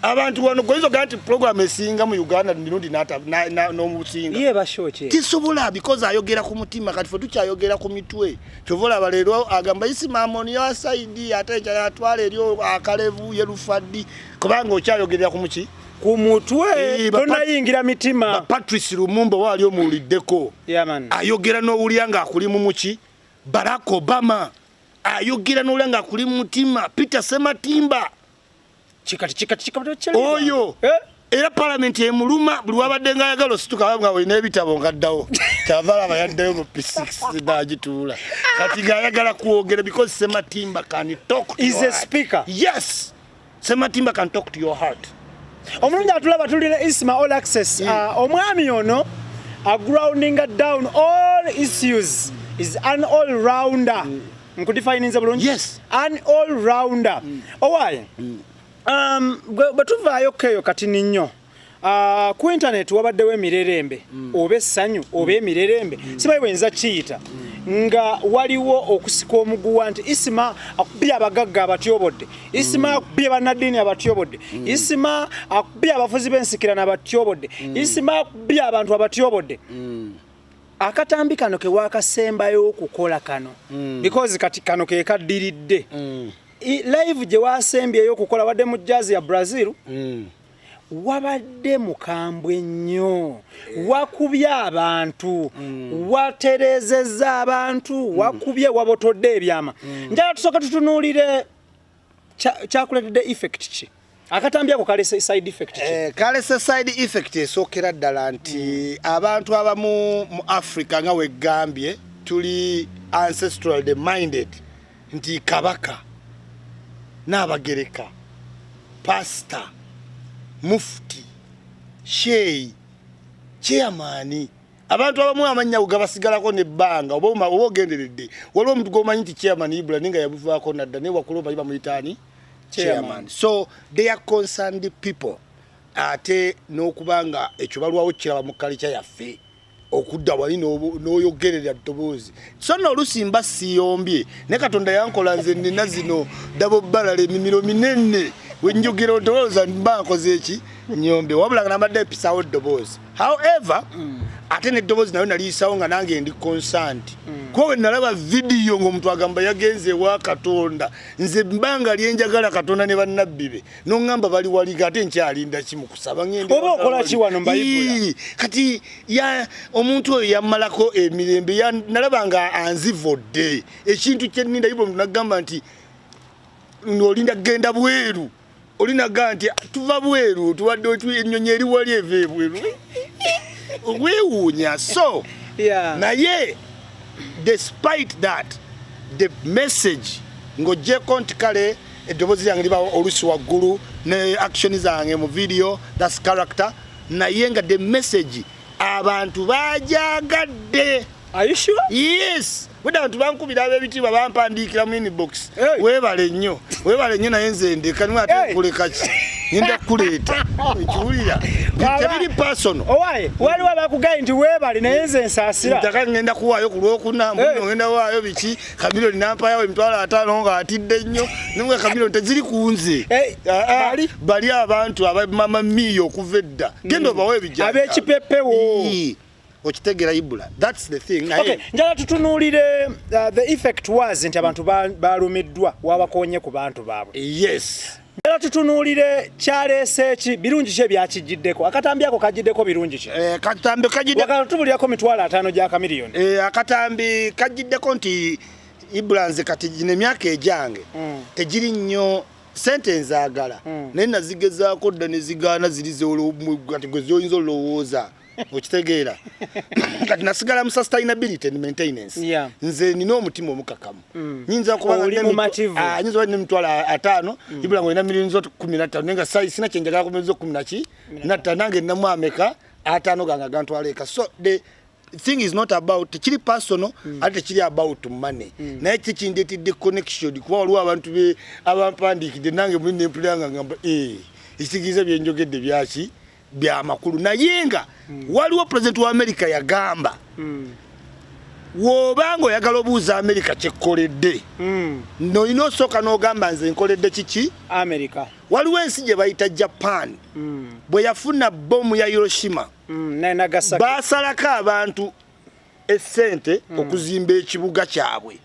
abantu wano goizo ganti program esinga mu Uganda mirundi nata na, na no musinga ye bashoche tisobola because ayogera ku mutima kati fo tukyayogera ku mitwe kyova olaba leero agamba isimaamoni yasaidi ate enjala yatwala eri akalevu yerufaddi kubanga okyayogerera ku muki ku mutwe eh, tonayingira mitima patrice lumumba waali omuwuliddeko ayogera n'owulira ng'akuli mu muki barack obama ayogera n'owulira ng'akuli mu mutima peter sematimba oyo eh? era palamenti emuluma buli wabadde nga ayagala osituka nga olina ebitabo ngaddawo kyavala aba yaddayo mu pisiks nagituula kati ngaayagala kwogera because sematimba can talk is a speaker yes sematimba can talk to your heart omulungi atulaba tulina isma all access mm. ah, omwami ono agroundinga down all issues is an all rounder mm. nkudifayininze bulungi yes. an all rounder mm. owaye mm. um, bwe tuvaayo keeyo kati ninnyo Uh, ku intaneti wabaddewo emirerembe mm. oba essanyu oba mm. emirerembe mm. sibayi bwenza kiyita mm. nga waliwo okusika omuguwa nti isima akubye abagagga abatyobodde isima mm. akubye bannaddiini abatyobodde mm. isima akubye abafuzi b'ensikirano abatyobodde mm. isima akubye abantu abatyobodde mm. akatambi kano kewakasembayo okukola kano mm. because kati kano kekaddiridde mm. live gye wasembyeyo okukola wadde mu jazz ya brazil mm. wabadde mukambwe nnyo eh. wakubye abantu mm. waterezeza abantu mm. wakubye wabotodde ebyama mm. njala tusooke tutunuulire kyakuletedde effect ki akatambi ako kalese side effect ki eh, kalese side effect esookera ddala nti mm. abantu abamu mu africa nga wegambye tuli ancestral the minded nti kabaka n'abagereka pasita mufti sheeyi chairmani abantu abamu amannya gabasigalako nebbanga oba oba ogenderedde waliwo omuntu gwomanyi nti chairman ibula ninga yabuvaako nadda naye wakula omanyi bamuyitaani chairman so they are concerned people ate n'okuba nga ekyo balwawo kiraba mu kalica yaffe okudda wali n'oyogerera ddoboozi so no olusi mba siyombye ne katonda yankola nze nina zino dabo balala emimiro minene wenjogera otowooza mba nkoze eki nyombe wabula nga nabadde mpisawo ddoboozi however mm. ate neddobozi nayo naliyisawo nga nange ndi consant mm. kuba wenalaba vidiyo ngaomuntu agamba yagenze ewa katonda nze mbanga lyenjagala katonda ne bannabbi be noŋamba bali waliga ate nkyalinda kimukusaba oba okolaki wano mbayibula kati ya omuntu oyo yamalako emirembe nalaba nga anzivodde ekintu kyeninda yibula omuntu nagamba nti olinda kugenda bweru olinaga nti tuva bweru tuwadde ennyonyi eri wali eva ebweru okwewuunya so yeah. naye despite that the message ng'ogyeko nti kale eddoboozi lyange liba olusi waggulu ne action zange mu video thats character naye nga the message abantu bajagadde yes Buda bantu bankubira abebitiibwa bampandiikira mu inbox. Hey. Webale nnyo. Webale nnyo naye nze ndeka niwe ate hey. kuleka ki. Ninda kuleeta. Ekiwulira. Tebiri personal. Owaye, waliwo abakugaye nti webale naye nze nsaasira. Ntaka ngenda kuwaayo ku lwokuna, mbuno hey. ngenda waayo biki, kabiro linampayawo emitwalo ataano nga atidde nnyo. Nimwe kabiro teziri ku nze. Hey. Ah, ah. Bali? Bali abantu aba mama miyo okuva edda. Genda mm. obawo ebijja. Abekipepewo. Hey. okitegera ibula that's the thing naye okay njala tutunulire uh, the effect was nti abantu balumiddwa ba wabakonye ku bantu baabwe yes njala tutunulire kyalese ki birungi kye byakijjiddeko akatambi ako kajjiddeko birungi ki eh katambi kajjidde wakala tubulirako mitwala atano gya kamiliyoni eh akatambi kajjiddeko nti ibula nze kati gine myaka ejange mm. tejiri nnyo sente nzagala mm. naye nazigezaako dda nezigaana ziri zolwo gwe zoyinza olowooza okitegeera kati nasigala mu sustainability and maintenance yeah. nze nina omutima omukakamu mm. nyinza kubanganyinza ah, nemitwalo ataano mm. ibula ngaolina milioni zo kumi nattaano naye nga sina kyenjagala kumizo kumi naki nattaano nange ninamu ameka ataano gange agantwala eka so the thing is not about tekiri personal mm. ate tekiri about money mm. naye kikindetidde connection kuba waliwo abantu be abampandiikidde nange muli nempulira nga ngamba eh, ekitegeeza byenjogedde byaki byamakulu naye nga mm. waliwo president wa america yagamba mm. woba nga oyagala obuuza america kyekkoledde mm. nolina osooka nogamba nze nkoledde kiki america waliwo ensi gye bayita japan mm. bwe yafuna bomu ya hiroshima mm. basalako abantu esente mm. okuzimba ekibuga kyabwe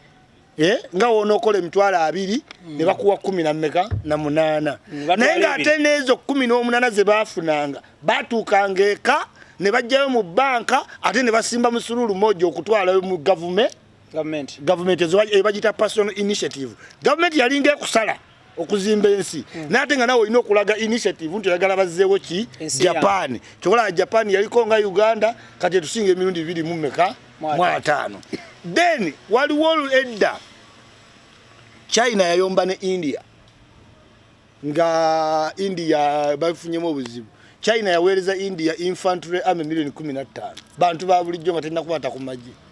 Eh, nga wonokola emitwalo abiri mm. ne bakuwa kumi na meka na munaana mm, naye ng'ate n'ezo kumi n'omunaana ze baafunanga baatuukanga eka ne bajjayo mu banka ate ne basimba musuluulu moja okutwalayo mu gavume gavumenti ebagita personal initiative gavumenti yalinga ekusala okuzimba ensi hmm. naye ate nga nawe olina okulaga initiative nti oyagala bazzeewo ki japan kyokolaba japan yaliko nga uganda kati etusinga emirundi bibiri mu meka mu ataano then waliwo edda china yayomba ne india nga india bafunyemu obuzibu china yaweereza india infantry army milioni kumi na ttaano bantu ba bulijjo nga terina kubaata ku magye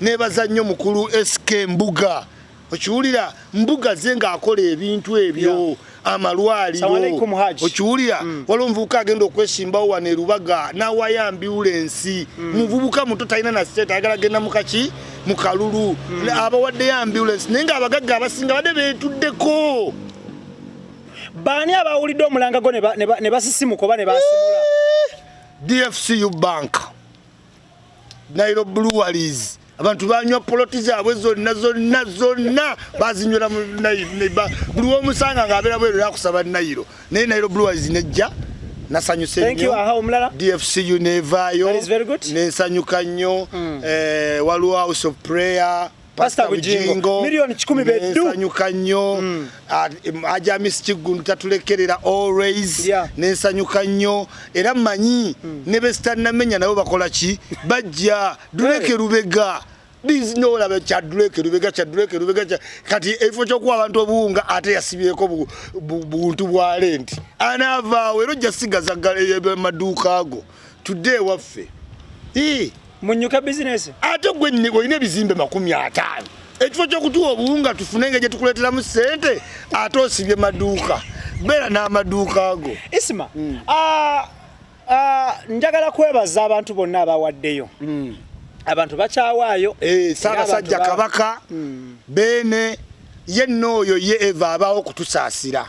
nebaza nnyo mukulu SK Mbuga okiwulira mbuga ze ng'akola ebintu ebyo amalwaliro okiwulira mm. waliwo omuvubuka agenda okwesimbawo wano erubaga nawaya mbiwula ensi mm. muvubuka muto talina na state ayagala genda mukaki mu kalulu mm. abawaddeyo ambulance naye ng'abagagga abasinga badde beetuddeko baani abawulidde omulanga gwo ne basisimuka oba ne basimula eh, dfcu bank nairo breweries abantu banywa poloti zaabwe zonna zonna zonna bazinywera buli womusanga ngaabeera bweru akusaba nairo naye nairo breweries nejja nasanyuse nnyo ah, dfcu neevaayo nensanyuka nnyo hmm. eh, waliwo house of prayer Pastor Bujingo milioni kikumi bedu nsanyuka nnyo mm. aja Miss Kiggundu tatulekerera always yeah. nensanyuka nnyo era manyi mm. ne besitanamenya nabo bakola ki bajja duleke lubega bizinolaba kyaduleke lubega kyaduleke lubega kati ekifo kyokuwa abantu obuwunga ate yasibyeko buntu bwa lenti anaavaawo era ojja sigaza eh, maduuka ago tudde ewaffe munyuka bizinesi ate gwe olina ebizimbe makumi ataano ekifo kyokutuwa obuwunga tufune nga gyetukuleteramu sente ate osibye maduuka beera n'amaduuka ago isima mm. ah, ah, njagala kwebaza abantu bonna abawaddeyo mm. abantu bakyawaayo eh, saabasajja kabaka mm. beene ye nooyo ye eva abaawo okutusaasira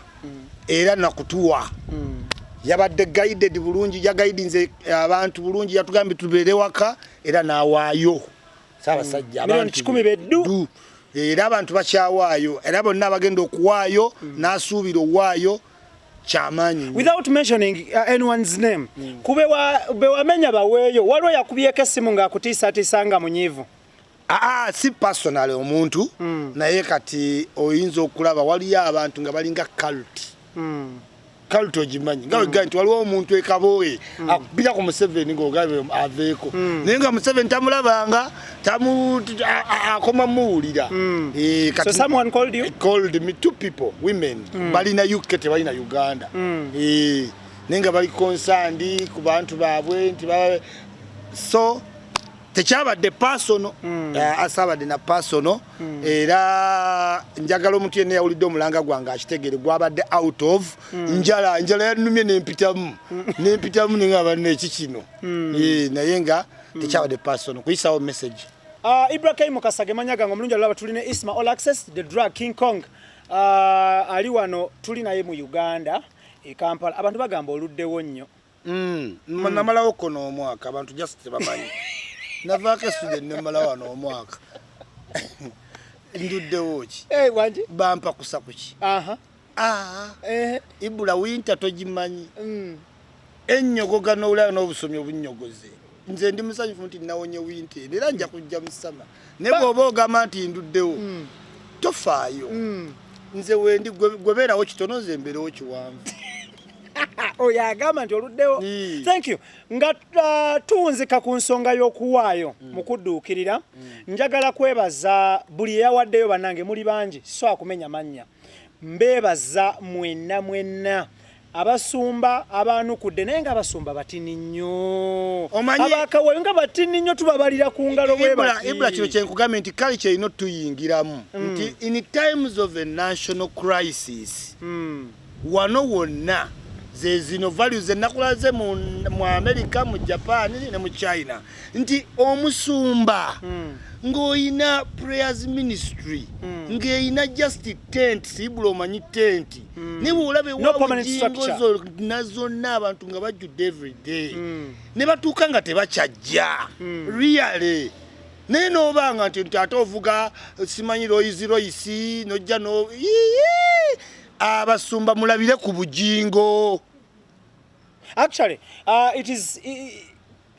era nakutuwa mm. yabadde guided bulungi yagaidinze eh, abantu bulungi yatugambye tubeere waka era nawaayo saabasajja mm. kikumi beddu era abantu bakyawaayo era bonna abagenda okuwaayo mm. n'asuubira owaayo kyamaanyi without mentioning uh, anyone's name mm. kube bewamenya baweeyo waliwo yakubyeko essimu ng'akutiisatiisa nga munyiivu Aa, ah, si personal omuntu mm. naye kati oyinza okulaba waliyo abantu nga balinga cult mm. cult ogimanyi nga wegamba nti waliwo omuntu ekabooye mm. akubira ku museveni ngaogabe aveeko mm. naye nga museveni tamulabanga akoma muwulira mm. eh, balina uk tebalina uganda eh, naye nga bali konsandi ku bantu baabwe nti so tekyabadde pasono mm. eh, asabadde na pasono mm. era njagala omuntu yenna yawulidde omulanga gwange akitegere gwabadde out of mm. njala njala yanumye nempitamu mm. nempitamu ninga banna eki kino mm. e, naye nga mm. tekyabadde pasono kuyisawo message uh, ah, ibrahim mukasage manya gange omulungi alaba tuli ne isma all access the drug king kong uh, ali wano tuli naye mu uganda e kampala abantu bagamba oluddewo nnyo Mm, mm. namalawo ko n'omwaka abantu just tebamanyi navaako esude nemalawa n'omwaka nduddewo ki eh, bampa kusa kuki ah, eh. ibula winta togimanyi mm. ennyogoga n'olaa n'obusomi obunyogoze nze ndi musanyufu nti nawonye winta eno era nja kujja musama naye bwoba ogamba nti nduddewo mm. tofaayo mm. nze wendi gwebeerawo kitono nze mbeerewo kiwanvu oyo agamba nti oluddewo thank you nga uh, tuwunzika ku nsonga y'okuwaayo mm. mu kudduukirira mm. njagala kwebaza buli eyawaddeyo bannange muli bangi so akumenya mannya mbeebaza mwenna mwenna abasumba abaanukudde naye nga abasumba batini nnyo abakawayo nga batini nnyo tubabalira ku ngalo bwebibula kino kyenkugambye nti kale kyerina otuyingiramu mm. nti in times of a national crisis mm. wano wonna zezino values zenakulaze mu america mu japan ne mu china nti omusumba mm. ng'olina prayers ministry mm. ng'erina just tent sibula omanyi tenti mm. ne bwolaba ewawujingo zonna zonna abantu nga bajjudde everyday mm. ne batuuka nga tebakyajja mm. really naye nobanga nti nti ate ovuga simanyi royisi royisi nojja no abasumba mulabire ku bujingo actually uh, it is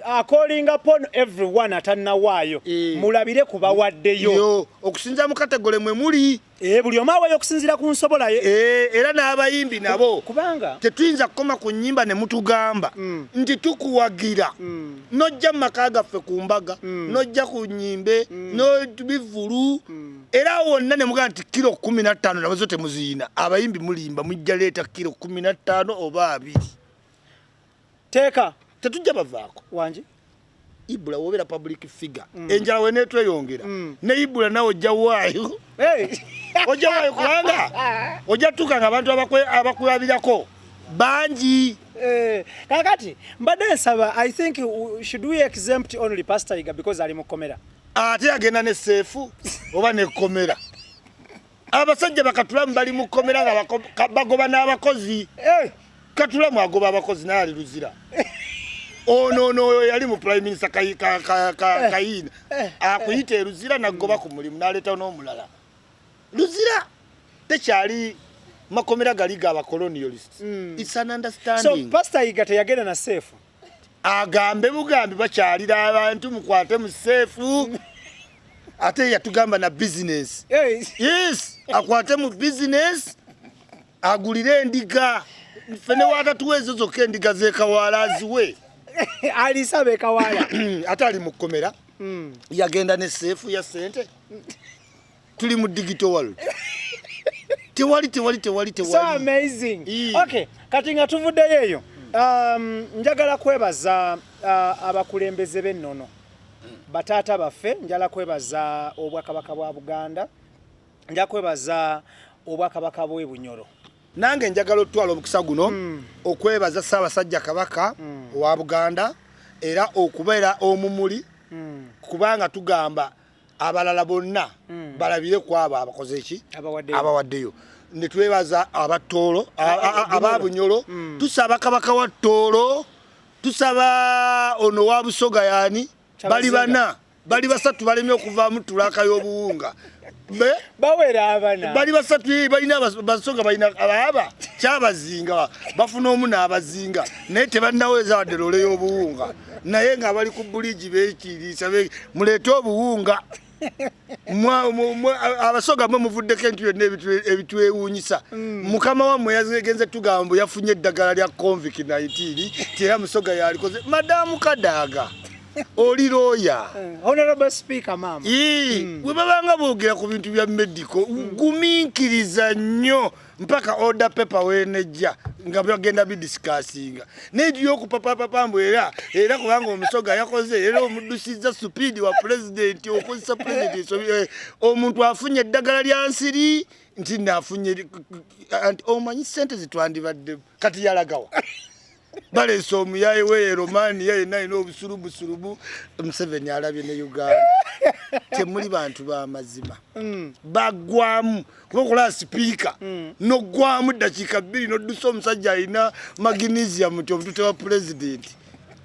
akolinga pon everyone atanawaayo e, mulabire ku bawaddeyo okusinzira mu kategole mwe muli e, buli omu awayo okusinzira ku nsobola ye e, era n'abayimbi nabo kubanga tetuyinza kukoma ku nyimba ne mutugamba mm. nti tukuwagira mm. nojja mu maka gaffe ku mbaga mm. nojja ku nyimbe mm. nobivulu mm. era wonna ne mugamba nti kiro kumi na ttaano nabazo temuziyina abayimbi mulimba mujja leeta kiro kumi na ttaano oba abiri teeka tetujja bavaako wangi ibula wobeera public figure mm. enjala wenetweyongera mm. ne ibula nawe ojja waayo hey. ojja waayo kubanga ojja tutuuka nga abantu abakulabirako bangi eh, kakati mbadde nsaba i think should we exempt only pastor iga because ali mu kkomera ate agenda ne seefu oba ne kkomera abasajja bakatulamu bali mu kkomera nga bagoba n'abakozi eh! katulamu agoba abakozi naye ali luzira onoono oyo yali mu prime minister kayiina eh! eh! akuyita eluzira nagoba ku mulimu naleetawo n'omulala luzira tekyali makomera gali ga bacolonialist mm. its an understanding so pastor yiga teyagenda na safe agambe bugambi bakyalira abantu mukwate mu seefu ate yatugamba na bizinesi yes akwate mu bizinesi agulire endiga ffe ne waatatuwa ezo zokka endiga zekawaala aziwe alisa bekawaala ate ali mu kkomera hmm. yagenda ne seefu ya sente tuli mu digital world tewali tewali tewali tewali so amazing e. okay kati nga tuvuddeyo eyo um, njagala kwebaza uh, abakulembeze b'ennono bataata baffe njala kwebaza obwakabaka bwa buganda nja kwebaza obwakabaka bwe bunyoro nange njagala otutwala omukisa guno mm. okwebaza ssaabasajja kabaka mm. owa buganda era okubeera omumuli mm. kubanga tugamba abalala bonna hmm. balabire ku abo abakoze eki abawaddeyo netwebaza abattoolo ababunyolo hmm. tusaba kabaka wa ttoolo tusaba ono wa busoga yani bali bana bali basatu balemye okuvaamu tulaaka y'obuwunga bawera abana bali basatu eh, balina basonga balina abaaba kyabazinga bafuna omu n'abazinga naye tebannaweza wadde loole y'obuwunga naye nga abali ku buligi bekiiriisa muleete obuwunga abasoga mwe muvuddeko entu yonna ebitwewuunyisa mm. mukama wammwe yagenze tugamba mbu yafunye eddagala lya convic 19 ti era musoga yalikoze madamu kadaaga oli looya eh, mm. webabanga boogera ku bintu bya medico mm. gumiikiriza nnyo mpaka order paper wenejja nga bagenda bidisikasinga naye tuyokupapapapa mbu era era kubanga omusoga yakoze era omudusizza supidi wa pulezidenti okozesa pulezidenti eh, omuntu afunye eddagala lya nsiri nti nafunye anti omanyi sente zitwandibadde kati yalagawa balesa omuyaye weye romania yena yina obusulubusulubu museveni alabye ne uganda temuli bantu bamazima mm. bagwamu kuba okola sipiika mm. nogwamu dakiika bbiri noddusa omusajja alina magnesium nti omutute wa pulezidenti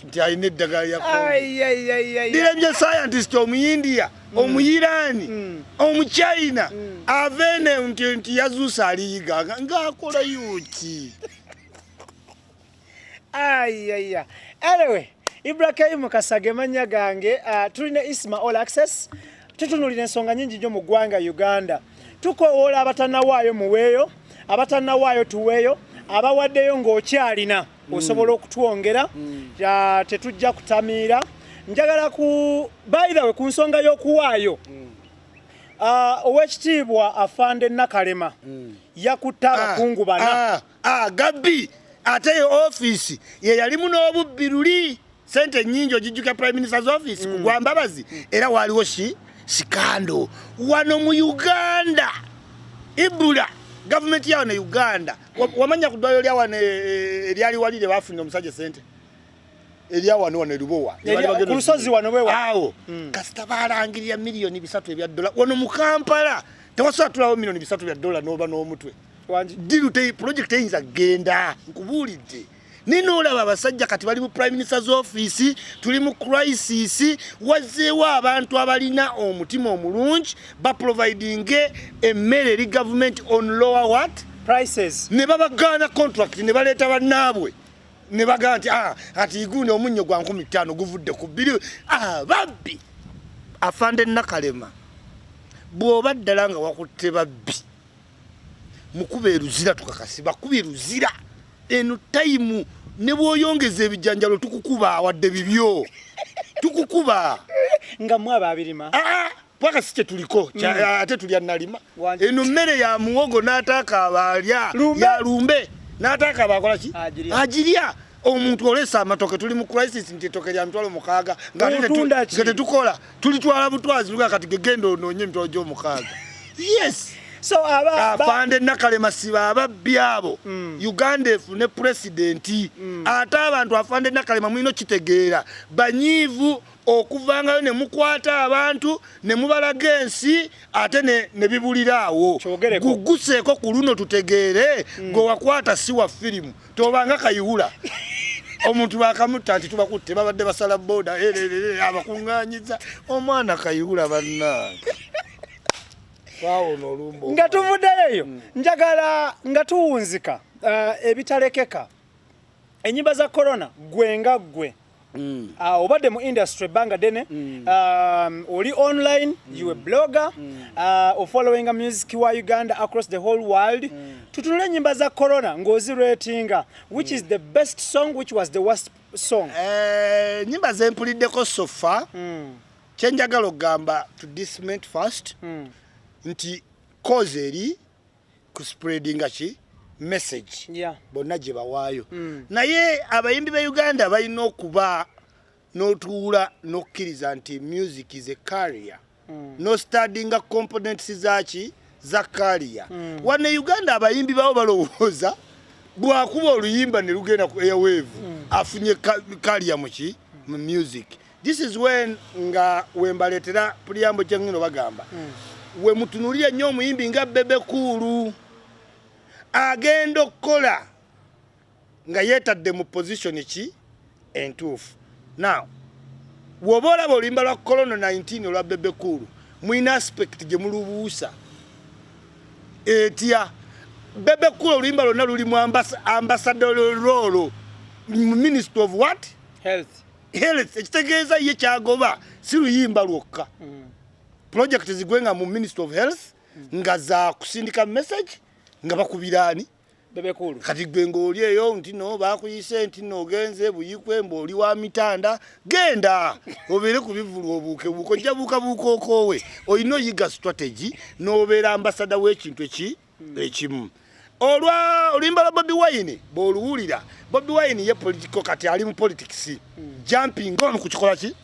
nti alina eddagala yakodirabye scientist omuyindiya mm. omuyiraani mm. omuchina mm. avene nti yazuusa aliyiga ngaakola yuki ayaya anyway ibrahimu kasage manya gange uh, tulina isma all access tutunulira ensonga nyingi nyo mu ggwanga uganda tukowoola abatanawaayo muweeyo abatanawaayo tuweeyo abawaddeyo ng'okyalina mm. osobola okutwongera mm. uh, tetujja kutamiira njagala ku baithawe ku nsonga y'okuwaayo mm. uh, owekitiibwa afande nakalema mm. yakutte abakungu ah, bana ah. agabbi ah, ate ye ofiisi ye yalimu n'obubbi luli sente ennyingi ogijjuka prime minister's office mm. kugwa mbabazi mm. era waaliwo si sikando wano mu uganda ibula gavumenti yawo ne uganda wamanya ku ddwaliro lyawano eh, eh, eryali wali lye bafunira omusajja sente erya wano wano erubowa ku lusozi wano wewa awo hmm. kasita balangirira miliyoni bisatu ebya dola wano mu kampala tewasobola tulawo miliyoni bisatu bya dola n'oba n'omutwe diru pulojekiti eyinza genda nkubuulidde naye noolaba abasajja kati bali mu prime minister's office tuli mu crisis wazzeewo abantu abalina omutima omulungi baprovidinge emmere eri gavumenti on lower what prices ne babagaana contract ne baleeta bannaabwe ne bagamba nti ah, ati iguuni omunnyo gwa nkumi ttaano guvudde ku bbiri ah, babbi afande nakalema bw'oba ddala nga wakutte babbi mukuba eruzira tukakasi bakuba eruzira eno tayimu ne bwoyongeza ebijanjalo tukukuba wadde bibyo tukukuba nga mwaba abirima ah, ah. paka si kyetuliko mm. ate tulya nalima eno mmere ya muwogo n'ataaka abaalya ya lumbe n'ataaka abaakola ki agirya omuntu olesa amatoke tuli mu crisis nti etoke lya mitwalo mukaaga nga tetukola tulitwala butwazi luga kati gegenda onoonye emitwalo gy'omukaaga yes so aba afande nakalema siba ababbi abo mm. uganda efune pulezidenti mm. ate abantu afande nakalema mulina okitegeera banyiivu okuvangayo ne mukwata abantu ne mubalaga ensi ate ne bibulira awo guguseeko ku luno tutegeere hmm. gwe wakwata si wa firimu tobanga kayiwula omuntu bakamutta nti tubakutte babadde basala boda abakuŋŋanyiza omwana kayiwula bannange nga tuvuddeyo eyo hmm. njagala nga tuwunzika uh, ebitalekeka enyimba za korona gwe nga gwe Mm. Uh, obadde mu industry ebbanga ddene mm. um, oli online mm. you a blogger mm. uh, ofollowinga music wa uganda across the whole world mm. tutunule enyimba za corona ng'ozi ratinga which mm. is the best song which was the worst song eh, nyimba uh, zempuliddeko sofa mm. kyenjagala okugamba to disment first mm. nti cause eri kuspreadinga ki message yeah. bonna gye bawaayo mm. naye abayimbi ba uganda balina okuba n'otuula n'okukkiriza nti music is a carrier mm. no studyinga components zaki za carrier mm. wana e uganda abayimbi bawo balowooza bwakuba oluyimba ne lugenda ku airwave mm. afunye carrier muki mu music this is when nga wembaletera puliyambo kyengino bagamba mm. we mutunulire nnyo omuyimbi nga bebe kuulu agenda okukola nga yetadde mu position ki entuufu now woba olaba oluyimba lwa corona 19 olwa bebe kuulu mwina aspect gye mulubuusa etya bebe kuulu oluyimba lwonna luli mu ambassador role ministry of what health health ekitegeeza ye kyagoba si luyimba lwokka mm. project zigwe nga mu ministry of health mm. nga za kusindika message nga bakubiraani bebekulu kati gwe ng'oli eyo nti no bakuyise nti no ogenze buyikwe mbaoli wa mitanda genda obeere ku bivulu obuuke buuka ojja buuka buuka okoowe olina oyiga strategy n'obeera ambasada w'ekintu eki hmm. ekimu olwa oluyimba lwa bobi wine bwoluwulira bobi wine ye politiko kati ali mu politics hmm. jumping on ku kikola ki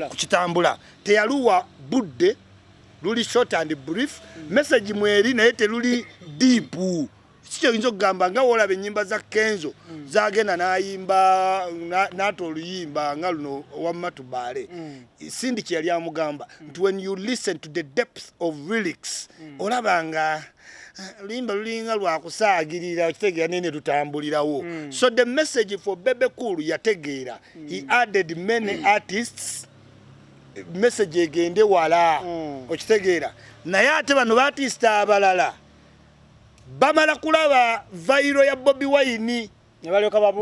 ku kitambula teyaluwa budde luli short and brief hmm. message mweri naye teluli deep sikyo yinza okugamba nga wolaba enyimba za kenzo zagenda nayimba nata oluyimba nga luno wamma tubaale Cindy kye yali amugamba nti when you listen to the depth of lyrics mm. olaba nga eh, luyimba lulinga lwakusaagirira okitegeera naye ne lutambulirawo mm. so the message for bebe cool yategeera mm. he added many mm. artists message egende wala mm. okitegeera naye ate bano baartist abalala bamala kulaba vairo ya bobi wayini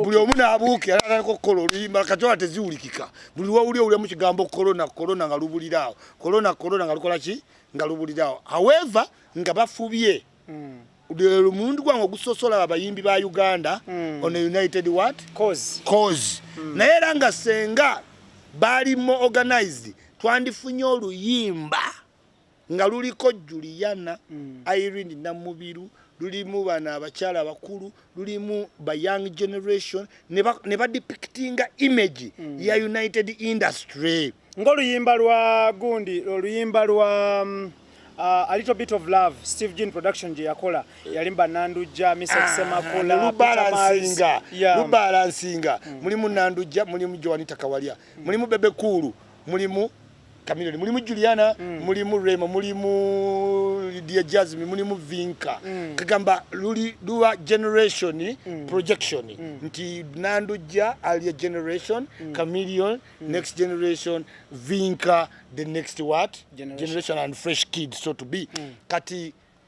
buli omu n'abuuke era atandika okukola oluyimba kati ola teziwulikika buli wawuli owulemu kigambo korona korona nga lubuliraawo korona korona nga lukola ki nga lubuliraawo however nga bafubye mm. omulundi gwange ogusosola abayimbi ba uganda mm. on a united what cause, cause. Mm. naye era nga senga baali mo organized twandifunye oluyimba nga luliko juliana mm. irene namubiru lulimu bano abakyala abakulu lulimu ba young generation ne badepictinga image mm. ya united industry ngaoluyimba lwa gundi oluyimba lwa um, uh, a little bit of love steve jean production gye yakola yalimba nandujja misakisemakulalubalansinga ah, yeah. lubalansinga mm. mulimu nandujja mulimu joanita kawalya mm. mulimu bebe kuulu mulimu Chameleone mulimu Juliana mm. mulimu Rema mulimu Lydia Jasmine mulimu Vinka mm. kagamba luli duwa generation mm. projection mm. nti nanduja alia generation mm. Chameleone mm. next generation Vinka the next what generation, generation and fresh kid so to be mm. kati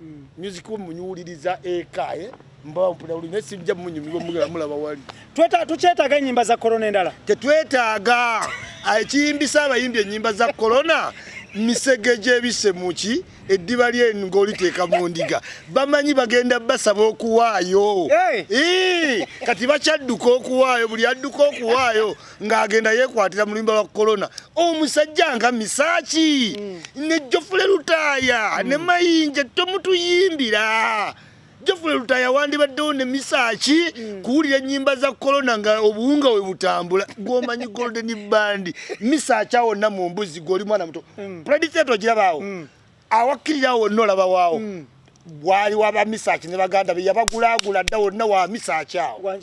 mm. music wo munyuuliriza eka eh? mbawo mpulira buli naye sijja munyumirwa mulaba wali tukyetaaga ennyimba za korona endala tetwetaaga ah, ekiyimbisa abayimbi ennyimba za korona misege gyebise muki eddiba lyenu ng'oliteeka mu ndiga bamanyi bagenda basaba okuwaayo kati bakyadduka okuwaayo buli adduka okuwaayo ng'agenda yeekwatira mu luyimba lwa kolona omusajja nga misaaki mm. ne jofule lutaaya mm. ne mayinja tomutuyimbira jofule lutaaya wandibaddewo ne misaaki mm. kuwulira ennyimba za kolona nga obuwunga we butambula gwomanyi golden bandi misaaki awonna mu mbuzi gweoli mwana muto mm. predicate ogirabaawo mm. awakkirira wonna olaba waawo mm. waali wa bamisaaki ne baganda be yabagulaagula dda wonna wa misaaki awo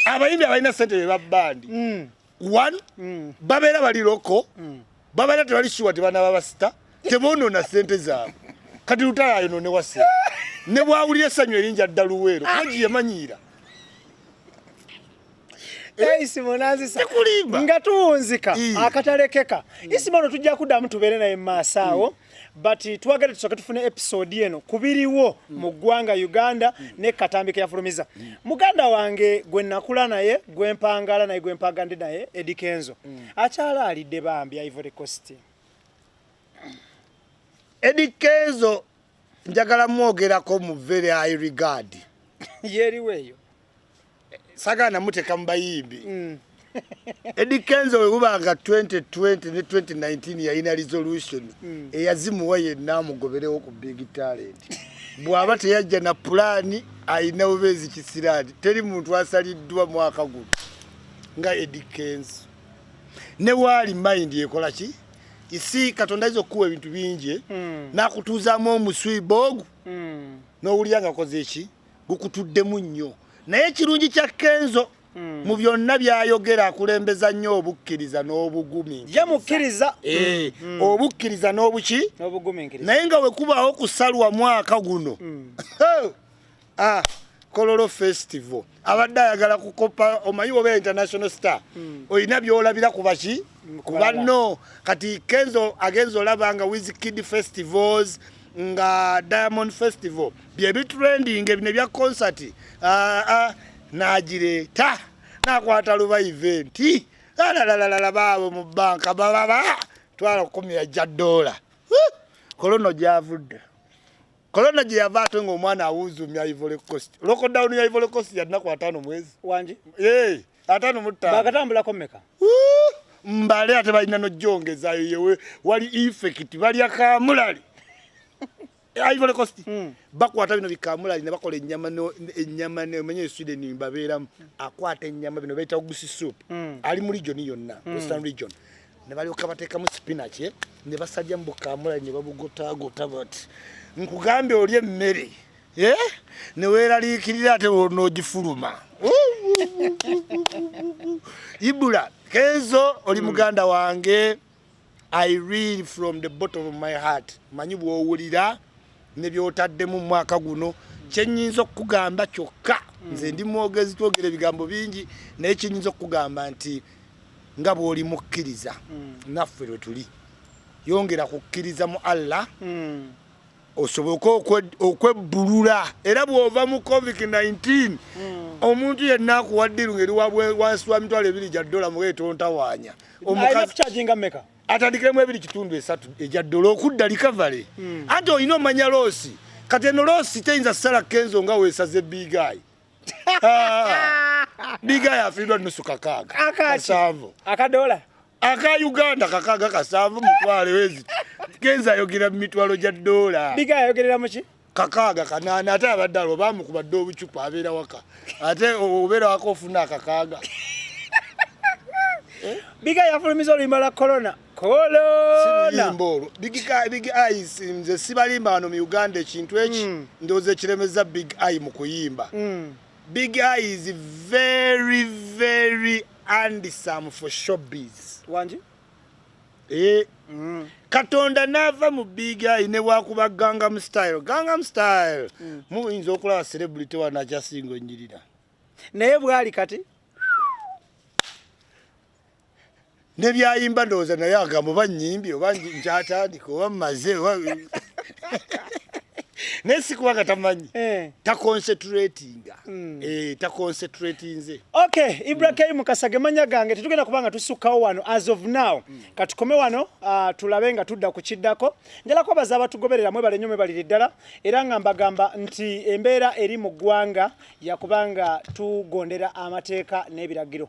abayimbi abalina sente beba bandi mm. one mm. babeera bali loko mm. babeera tebali shuwa tebanaba basita tebonona sente zaabwe kati lutala ayonone wase ne bwawulira essanyu erinja dda luweero aji yemanyiira eh, isimo nazisa nga tuwunzika akatalekeka isimo no tujja kuddamu tubeere naye mu maaso awo mm. but eh, twagala tusooke tufune episode eno kubiriwo mm. mu ggwanga uganda mm. ne katambi keyafulumiza mm. muganda wange gwe nakula naye gwe mpangala naye gwe mpagande naye edi kenzo mm. akyala alidde bambi ivory coast edi kenzo njagala mwogerako mu very high regard yeriweeyo sagana muteka mubayimbi mm. Eddie Kenzo wewubanga 2020 ne 2019 yalina resolution mm. eyazimuwa yenna amugoberewo ku big talent bw'aba teyajja na pulaani alina bubeezi kisiraani teri muntu asaliddwa mwaka guno nga Eddie Kenzo ne waali mind ekola ki isi katonda ayinza okukuwa ebintu bingi mm. n'akutuuzaamu omuswiba ogwo mm. n'owulira nga koze ki gukutuddemu nnyo naye ekirungi kya kenzo hmm. mu byonna byayogera akulembeza nnyo obukkiriza n'obugumi ye mukkiriza eh, hmm. Hmm. obukkiriza n'obuki naye nga wekubaawo kusalwa mwaka guno ah, kololo festival abadde ayagala kukopa omanyi oba international star olina byolabira ku baki ku banno kati kenzo agenza olaba nga wizkid festivals nga diamond festival byebitrending ebine bya concert ah, ah, nagireta nakwata luba event alalalala baabo mu banka bababa twala kukumira ja dola kolono gyavudde kolono gye yava ate ngaomwana awuuzumya ivory coast lockdown ya ivory coast yadinaku ataano mwezi wangi atano mutta bakatambulako meka mbale ate balina nojjongezayo yewe wali effect balya kamulali Ivory Coast mm. bakwata bino bikamulali ne bakola ennyama no ennyama ne omenye Sweden babeera akwata ennyama bino bayita ogusi soup mm. ali mu region yonna mm. western region ne balyoka bateekamu spinach eh? ne basajja mu bukamulali ne babugotagota bati nkugambye oli emmere eh? neweraliikirira ate wonogifuluma ibula kenzo oli hmm. muganda wange i real from the bottom of my heart manyi bwowulira nebyotaddemu mumwaka guno kyenyinza okukugamba kyokka hmm. nze ndi mwogezi twogera ebigambo bingi naye kyenyinza okukugamba nti nga bwoli mukkiriza hmm. naffe lwetuli yongera kukkiriza mu allah osoboke okwebbulula era bw'ova mu covid 19 hmm. omuntu yenna akuwa ddiru ngeri wansi wa mitwalo ebiri gya ddola muga etontawaanya atandikiremu ebiri kitundu esatu egya ddola okudda likavale hmm. anti olina omanya loosi kati eno loosi teyinza sala kenzo nga weesaze bigayi bigayi afiirwa nusu kakaaga kasanvu akadola aka Uganda kakaga kasanvu mutwale wezi kenza yogera mitwalo ja dola biga yogerera muki kakaga kanana ate abadalo bamu kubadde obucupa abera waka ate obera wako ofuna kakaga eh? biga yafulumiza oluyimba la corona corona biga big eyes nze sibalimba wano mu uganda ekintu eki mm. ndoze kiremeza big eye mu kuyimba mm. big eye is very very and some for showbiz wangi ee eh, mm. katonda naava mu bigayi ne wakuba gangam style gangam style mm. muyinza okulaba celebrity wanakyasinga onyirira naye bwali kati nebyayimba ndowooza naye agambo oba nyimbi oba nkyatandika oba mumaze naye sikuba nga tamanyi eh. taconcentrating Mm. Eh, ta concentrate nze okay ibra mm. mukasa gemanya gange tetugenda kubanga tusukkawo wano as of now mm. katukome wano uh, tulabe nga tudda ku kiddako njala kwabaza abatugoberera mwe balenyo mwe balire ddala era nga mbagamba nti embeera eri mu ggwanga yakubanga tugondera amateeka n'ebiragiro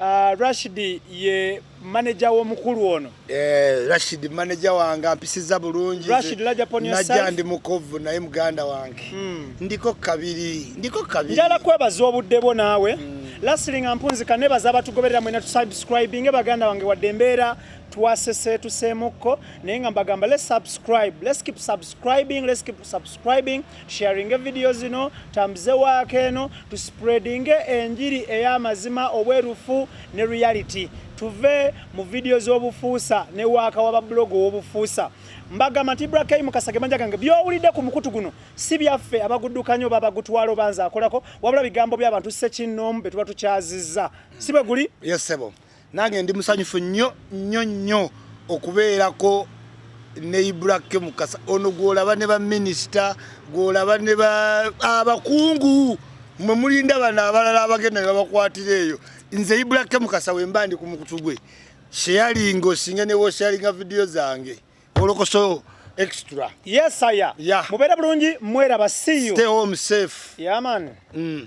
Uh, Rashid ye manager w'omukulu ono. Eh, Rashid manager wange ampisiza bulungi. Rashid laja pon yourself. Najja ndi mukovu naye muganda wange. Mm. Ndiko kabiri, ndiko kabiri. Njala kwebaza obudde bwo naawe. Mm. Lastly nga mpunzika nebaza abatugoberera mwena tusubscribinge baganda wange wadde embeera twasese tuseemukko naye nga mbagamba let's subscribe, let's keep subscribing, let's keep subscribing. sharinge vidiyo zino tambuze waako eno tuspreadinge enjiri ey'amazima obwerufu ne reality tuve mu vidiyo z'obufuusa ne waaka wa babuloga ow'obufuusa mbagamba nti ibra kay mukasa gemanja gange byowulidde ku mukutu guno si byaffe abaguddukanyo babagutwalo banza akolako wabula bigambo by'abantu sekinnoomu be tuba tukyazizza si bwe guli yes, nange ndi musanyufu nnyo nnyo nnyo okubeerako ne ibrake mukasa ono gwolaba ne baminisita gwolaba ne abakungu mwe mulinda bano abalala abagenda ne babakwatira eyo nze ibrake mukasa wemba ndi ku mukutu gwe sheyalinga osinga newe osheyalinga vidiyo zange olokoso extra yes aya yeah. mubere bulungi mweraba see you stay home safe yeah man mm.